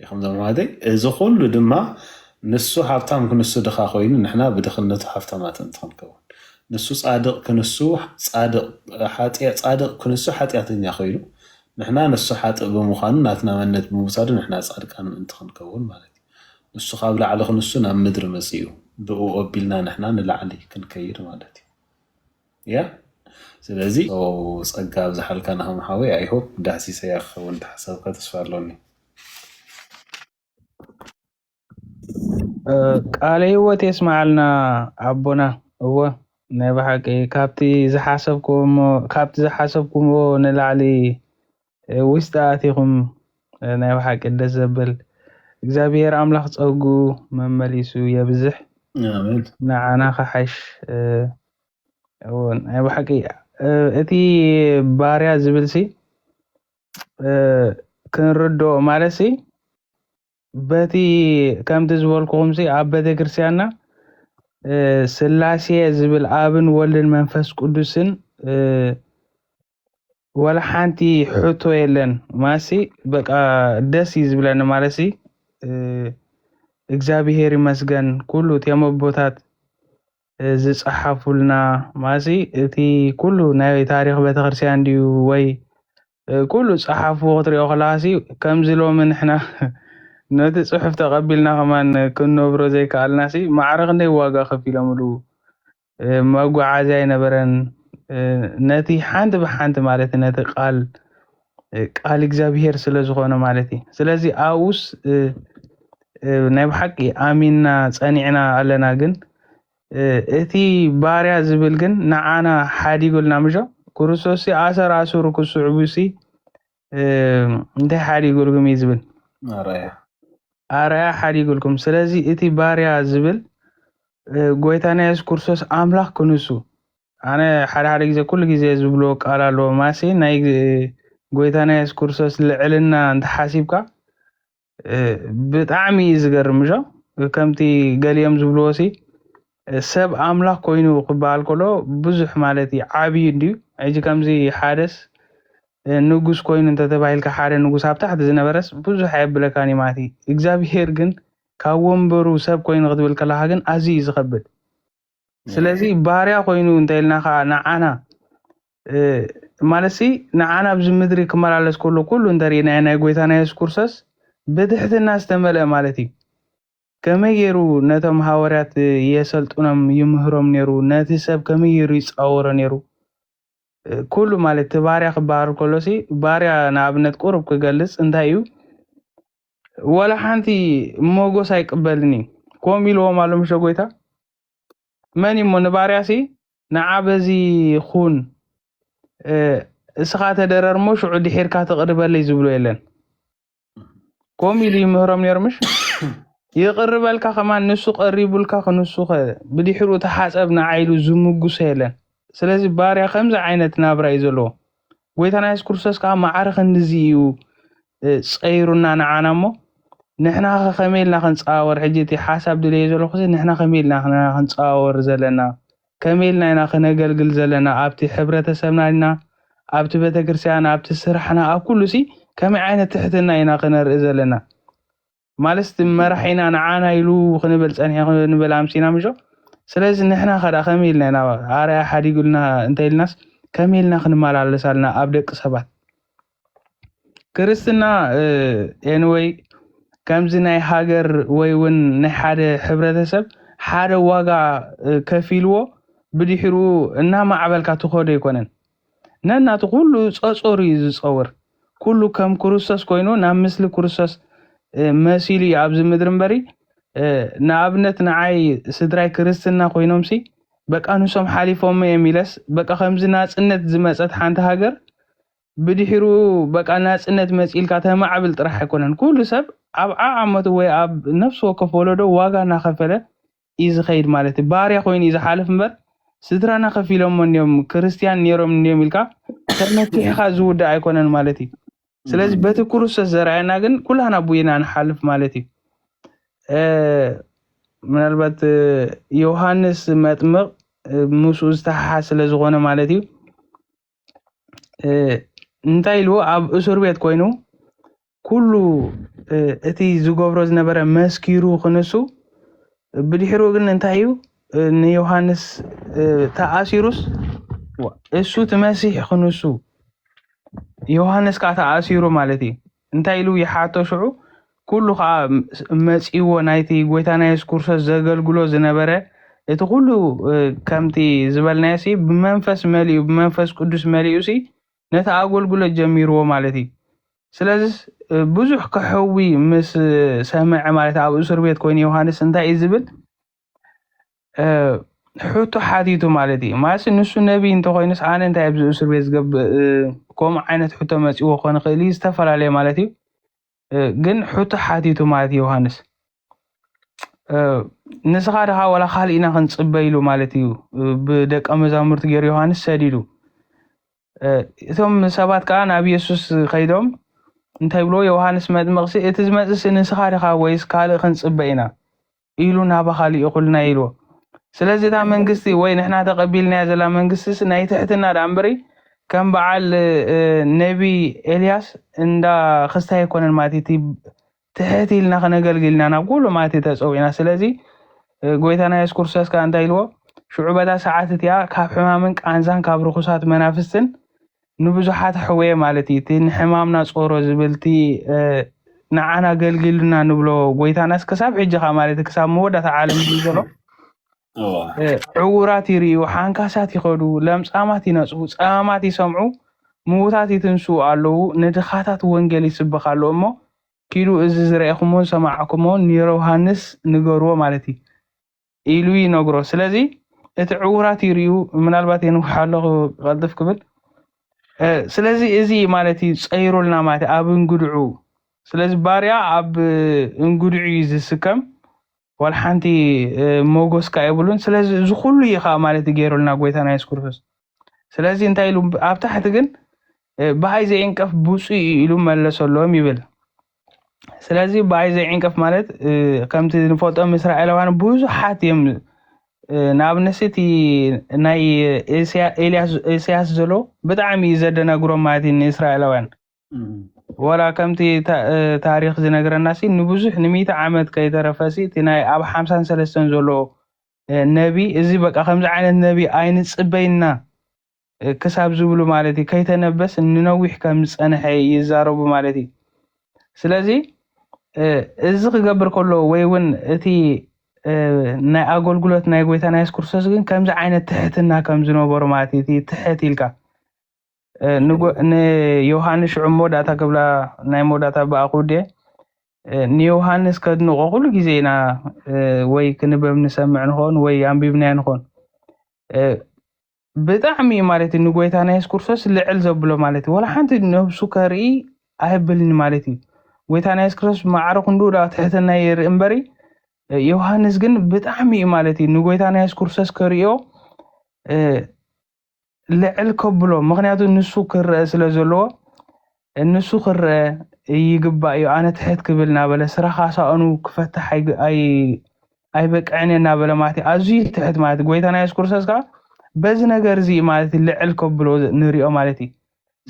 ኢኹም ዘማዋተይ እዚ ኩሉ ድማ ንሱ ሃብታም ክንሱ ድኻ ኮይኑ ንሕና ብድኽነቱ ሃፍታማት እንትክንከውን ንሱ ጻድቕ ክንሱ ጻድቕ ጻድቕ ክንሱ ሓጢኣተኛ ኮይኑ ንሕና ንሱ ሓጥእ ብምዃኑ ናትና መንነት ብምውሳዱ ንሕና ጻድቃን ምእንቲ ክንከውን ማለት እዩ ንሱ ካብ ላዕሊ ክንሱ ናብ ምድሪ መጺኡ ብእኡ ኣቢልና ንሕና ንላዕሊ ክንከይድ ማለት እዩ እያ ስለዚ ጸጋ ኣብዝሓልካ ናሆም ሓወይ ኣይ ሆፕ ዳህሲሰያ ክከውን ተሓሳብካ ተስፋ ኣሎኒ። ቃለ ህይወት የስመዓልና ኣቦና። እወ ናይ ብሓቂ ካብቲ ዝሓሰብኩዎ እሞ ካብቲ ዝሓሰብኩዎ ንላዕሊ ውሽጢ ኣቲኹም ናይ ብሓቂ ደስ ዘብል እግዚኣብሔር ኣምላኽ ጸጉኡ መመሊሱ የብዝሕ ንዓና ክሓሽ ናይ ብሓቂ እቲ ባርያ ዝብልሲ ክንርድኦ ማለትሲ በቲ ከምቲ ዝበልኩኹምሲ ኣብ ቤተክርስቲያንና እ፣ ስላሴ ዝብል ኣብን ወልድን መንፈስ ቅዱስን እ፣ ወላ ሓንቲ ሕቶ የለን ማሲ በቃ ደስ እዩ ዝብለኒ ማለሲ እ፣ እግዚኣብሔር ይመስገን ኩሉ እቶም ኣቦታት እ፣ ዝፀሓፉልና ማሲ እቲ ኩሉ ናይ ታሪክ ቤተክርስቲያን ድዩ ወይ ኩሉ ጸሓፍዎ ክትሪኦ ከለኻሲ ከምዚ ሎሚ ንሕና ነቲ ጽሑፍ ተቀቢልና ከማን ክንነብሮ ዘይከኣልናሲ ማዕረ ክንደይ ዋጋ ከፊሎምሉ መጓዓዝያ ኣይነበረን ነቲ ሓንቲ ብሓንቲ ማለት ነቲ ቃል ቃል እግዚኣብሄር ስለ ዝኾነ ማለት እዩ ስለዚ ኣብኡስ ናይ ብሓቂ ኣሚንና ጸኒዕና ኣለና ግን እቲ ባርያ ዝብል ግን ንዓና ሓዲጉልና ምሾ ክርስቶስሲ ኣሰር ኣሱሩ ክስዕቡሲ እንታይ ሓዲጉልኩም እዩ ዝብል ኣርኣያ ኣርኣያ ሓዲጉልኩም ስለዚ እቲ ባርያ ዝብል ጎይታና የሱስ ክርስቶስ ኣምላኽ ክንሱ ኣነ ሓደ ሓደ ግዜ ኩሉ ግዜ ዝብሎ ቃል ኣለዎ ማሲ ናይ ጎይታና የሱስ ክርስቶስ ልዕልና እንተሓሲብካ ብጣዕሚ እዩ ዝገርም እሾ ከምቲ ገሊኦም ዝብልዎ ሲ ሰብ ኣምላኽ ኮይኑ ክበሃል ከሎ ብዙሕ ማለት እዩ ዓብዩ እንድዩ ሕጂ ከምዚ ሓደስ ንጉስ ኮይኑ እንተተባሂልካ ሓደ ንጉስ ኣብ ታሕቲ ዝነበረስ ብዙሕ ኣየብለካን እዩ ማለት እዩ እግዚኣብሄር ግን ካብ ወንበሩ ሰብ ኮይኑ ክትብል ከለካ ግን ኣዝዩ እዩ ዝኸብድ ስለዚ ባርያ ኮይኑ እንተኢልና ከኣ ንዓና ማለትሲ ንዓና ኣብዚ ምድሪ ክመላለስ ከሎ ኩሉ እንተሪእናዮ ናይ ጎይታና የሱስ ክርስቶስ ብትሕትና ዝተመልአ ማለት እዩ ከመይ ገይሩ ነቶም ሃወርያት የሰልጥኖም ይምህሮም ነይሩ ነቲ ሰብ ከመይ ገይሩ ይፃወሮ ነይሩ ኩሉ ማለት እቲ ባርያ ክበሃል ከሎሲ ባርያ ንኣብነት ቁሩብ ክገልፅ እንታይ እዩ ወላ ሓንቲ ሞጎስ ኣይቅበልን እዩ ከምኡ ኢልዎም ኣሎ ምሸ ጎይታ መን እሞ ንባርያሲ ንዓ በዚ ኹን እ፣ እስኻ ተደረር እሞ ሽዑ ድሒርካ ትቕርበለይ ዝብሎ የለን ከምኡ ኢሉ ይምህሮም ነይሩ ምሽ ይቕርበልካ ከማን ንሱ ቀሪቡልካ ክንሱ ኸ ብድሕሪኡ ተሓፀብ ንዓ ኢሉ ዝምጉሶ የለን ስለዚ ባርያ ከምዚ ዓይነት ናብራ እዩ ዘለዎ ጎይታና የሱስ ክርስቶስ ከዓ ማዕረ ክንድዚ እዩ ፀይሩና ንዓና እሞ ንሕና ከ ከመይ ኢልና ክንፀዋወር ሕጂ እቲ ሓሳብ ድልየ ዘለኹ ንሕና ከመይ ኢልና ኢና ክንፀዋወር ዘለና ከመይ ኢልና ኢና ክነገልግል ዘለና ኣብቲ ሕብረተሰብና ኢና ኣብቲ ቤተክርስትያን ኣብቲ ስራሕና ኣብ ኩሉ ሲ ከመይ ዓይነት ትሕትና ኢና ክነርኢ ዘለና ማለስ መራሒና ንዓና ኢሉ ክንብል ጸኒሑ ክንብል ኣምሲና ምሾ ስለዚ ንሕና ከዳ ከመይ ኢልና ኢና ኣርያ ሓዲጉልና እንተ ኢልናስ ከመይ ኢልና ክንመላለስ ኣልና ኣብ ደቂ ሰባት ክርስትና ኤንወይ ከምዚ ናይ ሃገር ወይ እውን ናይ ሓደ ሕብረተሰብ ሓደ ዋጋ ከፊልዎ ብድሕሩ እናማዕበልካ ትኸዶ ኣይኮነን ነናቱ ኩሉ ጸጾሩ እዩ ዝጸውር ኩሉ ከም ኩሩሰስ ኮይኑ ናብ ምስሊ ኩሩሰስ መሲሉ እዩ ኣብዚ ምድሪ እምበሪ ንኣብነት ንዓይ ስድራይ ክርስትና ኮይኖምሲ በቃ ንሶም ሓሊፎሞ እዮም ኢለስ በቃ ከምዚ ናጽነት ዝመጸት ሓንቲ ሃገር ብድሕሩ በቃ ናጽነት መጺልካ ተማዕብል ጥራሕ ኣይኮነን ኩሉ ሰብ ኣብ ዓዓመቱ ወይ ኣብ ነፍሲ ወከፍ ወለዶ ዋጋ እናኸፈለ እዩ ዝከይድ ማለት እዩ ባርያ ኮይኑ እዩ ዝሓልፍ እምበር ስድራና ከፊሎሞ እንዲዮም ክርስትያን ነይሮም እንዲዮም ኢልካ ተመኪሕካ ዝውዳእ ኣይኮነን ማለት እዩ ስለዚ በቲ ክርስቶስ ዘርኣየና ግን ኩላና ቡኢና ንሓልፍ ማለት እዩ ምናልባት ዮሃንስ መጥምቕ ምስኡ ዝተሓሓዝ ስለ ዝኾነ ማለት እዩ እንታይ ኢልዎ ኣብ እሱር ቤት ኮይኑ ኩሉ እቲ ዝገብሮ ዝነበረ መስኪሩ ክንሱ ብድሕሩ ግን እንታይ እዩ ንዮሃንስ ተኣሲሩስ እሱ እቲ መሲሕ ክንሱ ዮሃንስ ከዓ ተኣሲሩ ማለት እዩ እንታይ ኢሉ ይሓቶ ሽዑ ኩሉ ከኣ መጺእዎ ናይቲ ጎይታና የሱስ ክርስቶስ ዘገልግሎ ዝነበረ እቲ ኩሉ ከምቲ ዝበልናዮሲ ብመንፈስ መሊኡ ብመንፈስ ቅዱስ መሊኡሲ ነቲ ኣገልግሎት ጀሚርዎ ማለት እዩ ስለዚ ብዙሕ ከሕዊ ምስ ሰምዐ ማለት ኣብ እሱር ቤት ኮይኑ ዮሃንስ እንታይ እዩ ዝብል ሕቶ ሓቲቱ ማለት እዩ ማለት ንሱ ነቢይ እንተኮይኑስ ኣነ እንታይ ኣብዚ እስር ቤት ዝገብእ ከምኡ ዓይነት ሕቶ መፂዎ ክኾን ይኽእል እዩ ዝተፈላለየ ማለት እዩ ግን ሕቶ ሓቲቱ ማለት እዩ ዮሃንስ ንስኻ ድኻ ዋላ ካልእ ኢና ክንፅበ ኢሉ ማለት እዩ ብደቀ መዛሙርቲ ገይሩ ዮሃንስ ሰዲዱ እቶም ሰባት ከዓ ናብ የሱስ ከይዶም እንታይ ብሎ ዮሃንስ መጥምቕሲ እቲ ዝመፅእሲ ንስኻ ድኻ ወይስ ካልእ ክንፅበ ኢና ኢሉ ናባኻ ሊኢኹልና ኢልዎ ስለዚ እታ መንግስቲ ወይ ንሕና ተቀቢልናያ ዘላ መንግስቲስ ናይ ትሕትና ደኣ እምበሪ ከም በዓል ነቢ ኤልያስ እንዳ ክስታይ ኣይኮነን ማለት እቲ ትሕት ኢልና ክነገልግል ኢና ናብ ኩሉ ማለት ተጸዊዕና ስለዚ ጎይታና የሱስ ክርስቶስ ከኣ እንታይ ኢልዎ ሽዑ በታ ሰዓት እቲኣ ካብ ሕማምን ቃንዛን ካብ ርኹሳት መናፍስትን ንብዙሓት ኣሕውየ ማለት እዩ እቲ ንሕማምና ጾሮ ዝብል እቲ ንዓና ኣገልጊሉና ንብሎ ጎይታናስ ክሳብ ሕጂ ከ ማለት ክሳብ መወዳእታ ዓለም እዩ ዘሎ ዕውራት ይርእዩ ሓንካሳት ይኸዱ ለምጻማት ይነጽሁ ጸማማት ይሰምዑ ምዉታት ይትንስኡ ኣለዉ ንድኻታት ወንጌል ይስበኽ ኣሎ እሞ ኪዱ እዚ ዝረኤኹሞን ሰማዕኩሞን ንዮርውሃንስ ንገርዎ ማለት እዩ ኢሉ ይነግሮ ስለዚ እቲ ዕውራት ይርዩ ምናልባት የንውሓ ኣለኹ ክቐልጥፍ ክብል ስለዚ እዚ ማለት እዩ ፀይሩልና ማለት ኣብ እንግድዑ ስለዚ ባርያ ኣብ እንግድዑ እዩ ዝስከም ዋላ ሓንቲ ሞጎስ ከዓ የብሉን ስለዚ እዚ ኩሉ እዩ ከዓ ማለት እዩ ገይሩልና ጎይታና የሱስ ክርስቶስ ስለዚ እንታይ ኢሉ ኣብ ታሕቲ ግን ብኣይ ዘየንቀፍ ብፁ እዩ ኢሉ መለሰሎም ይብል ስለዚ ብኣይ ዘይዕንቀፍ ማለት ከምቲ ንፈልጦም እስራኤላውያን ብዙሓት እዮም ናብ ንስ እቲ ናይ ኢሳያስ ዘሎ ብጣዕሚ እዩ ዘደናግሮም ማለት እዩ ንእስራኤላውያን ወላ ከምቲ ታሪክ ዝነግረና ሲ ንብዙሕ ንሚእቲ ዓመት ከይተረፈ ሲ እቲ ናይ ኣብ ሓምሳን ሰለስተን ዘሎ ነቢ እዚ በቃ ከምዚ ዓይነት ነቢ ኣይንፅበይና ክሳብ ዝብሉ ማለት እዩ ከይተነበስ ንነዊሕ ከም ዝጸንሐ ይዛረቡ ማለት እዩ ስለዚ እዚ ክገብር ከሎ ወይ እውን እቲ ናይ ኣገልግሎት ናይ ጎይታና የሱስ ክርስቶስ ግን ከምዚ ዓይነት ትሕትና ከም ዝነበሩ ማለት እቲ ትሕት ኢልካ ንዮሃንስ ሽዑ መወዳእታ ክብላ ናይ መወዳእታ ብኣ ክውደ ንዮሃንስ ከድንቆ ኩሉ ግዜ ኢና ወይ ክንበብ ንሰምዕ ንኾን ወይ ኣንቢብናዮ ንኾን ብጣዕሚ እዩ ማለት እዩ ንጎይታና የሱስ ክርስቶስ ልዕል ዘብሎ ማለት እዩ ወላ ሓንቲ ነብሱ ከርኢ ኣይብልን ማለት እዩ ጎይታና የሱስ ክርስቶስ ማዕረ ክንዱ ዳ ትሕትና የርኢ እምበሪ ዮሃንስ ግን ብጣዕሚ እዩ ማለት እዩ ንጎይታና የሱስ ክርስቶስ ከርእዮ ልዕል ከብሎ ምክንያቱ ንሱ ክረአ ስለ ዘለዎ እንሱ ክረኣ እይግባእዩ ኣነ ትሕት ክብል እናበለ ስራኻ ሳእኑ ክፈትሕ ኣይበቅዕንየ እናበለ ማለት ኣዙይ ትሕት ማለት ጎይታና የሱስ ክርስቶስ ከኣ በዚ ነገር እዚ ማለት ልዕል ከብሎ ንሪኦ ማለት እዩ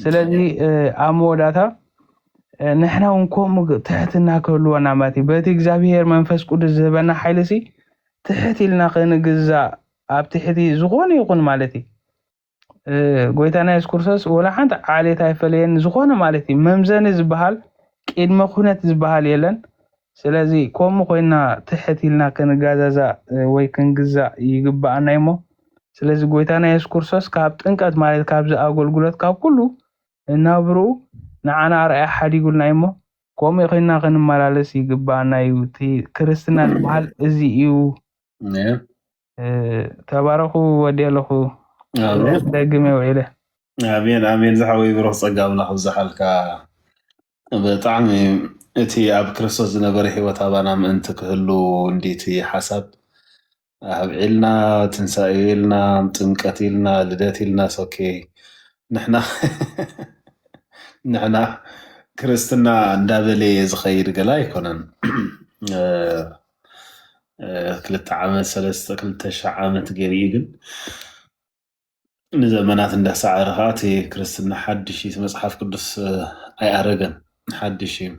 ስለዚ ኣብ መወዳእታ ንሕና እውን ከምኡ ትሕትና ክህልወና ማለት እዩ በቲ እግዚኣብሄር መንፈስ ቅዱስ ዝህበና ሓይሊ ሲ ትሕት ኢልና ክንግዛእ ኣብ ትሕቲ ዝኾነ ይኹን ማለት እዩ ጎይታና የሱስ ክርስቶስ ወላ ሓንቲ ዓሌት ኣይፈለየን ዝኾነ ማለት እዩ መምዘኒ ዝበሃል ቅድመ ኩነት ዝበሃል የለን ስለዚ ከምኡ ኮይና ትሕት ኢልና ክንጋዛዛእ ወይ ክንግዛእ ይግባኣና እዩሞ ስለዚ ጎይታና የሱስ ክርስቶስ ካብ ጥንቀት ማለት ካብዚ ኣገልግሎት ካብ ኩሉ እናብርኡ ንዓና ኣርኣያ ሓዲጉልና እዩሞ ከምኡ ኮይና ክንመላለስ ይግባኣና እዩ እቲ ክርስትና ዝበሃል እዚ እዩ ተባረኹ ወዲ ኣለኹ ደግመ ውዒለ ኣሜን ኣሜን ዝሓወይ ብሩኽ ጸጋ ኣምላኽ ብዝሓልካ ብጣዕሚ እቲ ኣብ ክርስቶስ ዝነበረ ሂወት ኣባና ምእንቲ ክህሉ እንዲቲ ሓሳብ ኣብዒልና ትንሳኤ ኢልና ጥምቀት ኢልና ልደት ኢልና ሶኬ ንሕና ንሕና ክርስትና እንዳበለየ ዝኸይድ ገላ ኣይኮነን ክልተ ዓመት ሰለስተ ክልተ ሽሕ ዓመት ገይሩ እዩ ግን ንዘመናት እንዳሰዓረ ከዓ እቲ ክርስትና ሓድሽ እዩ እቲ መፅሓፍ ቅዱስ ኣይኣረገን ሓድሽ እዩ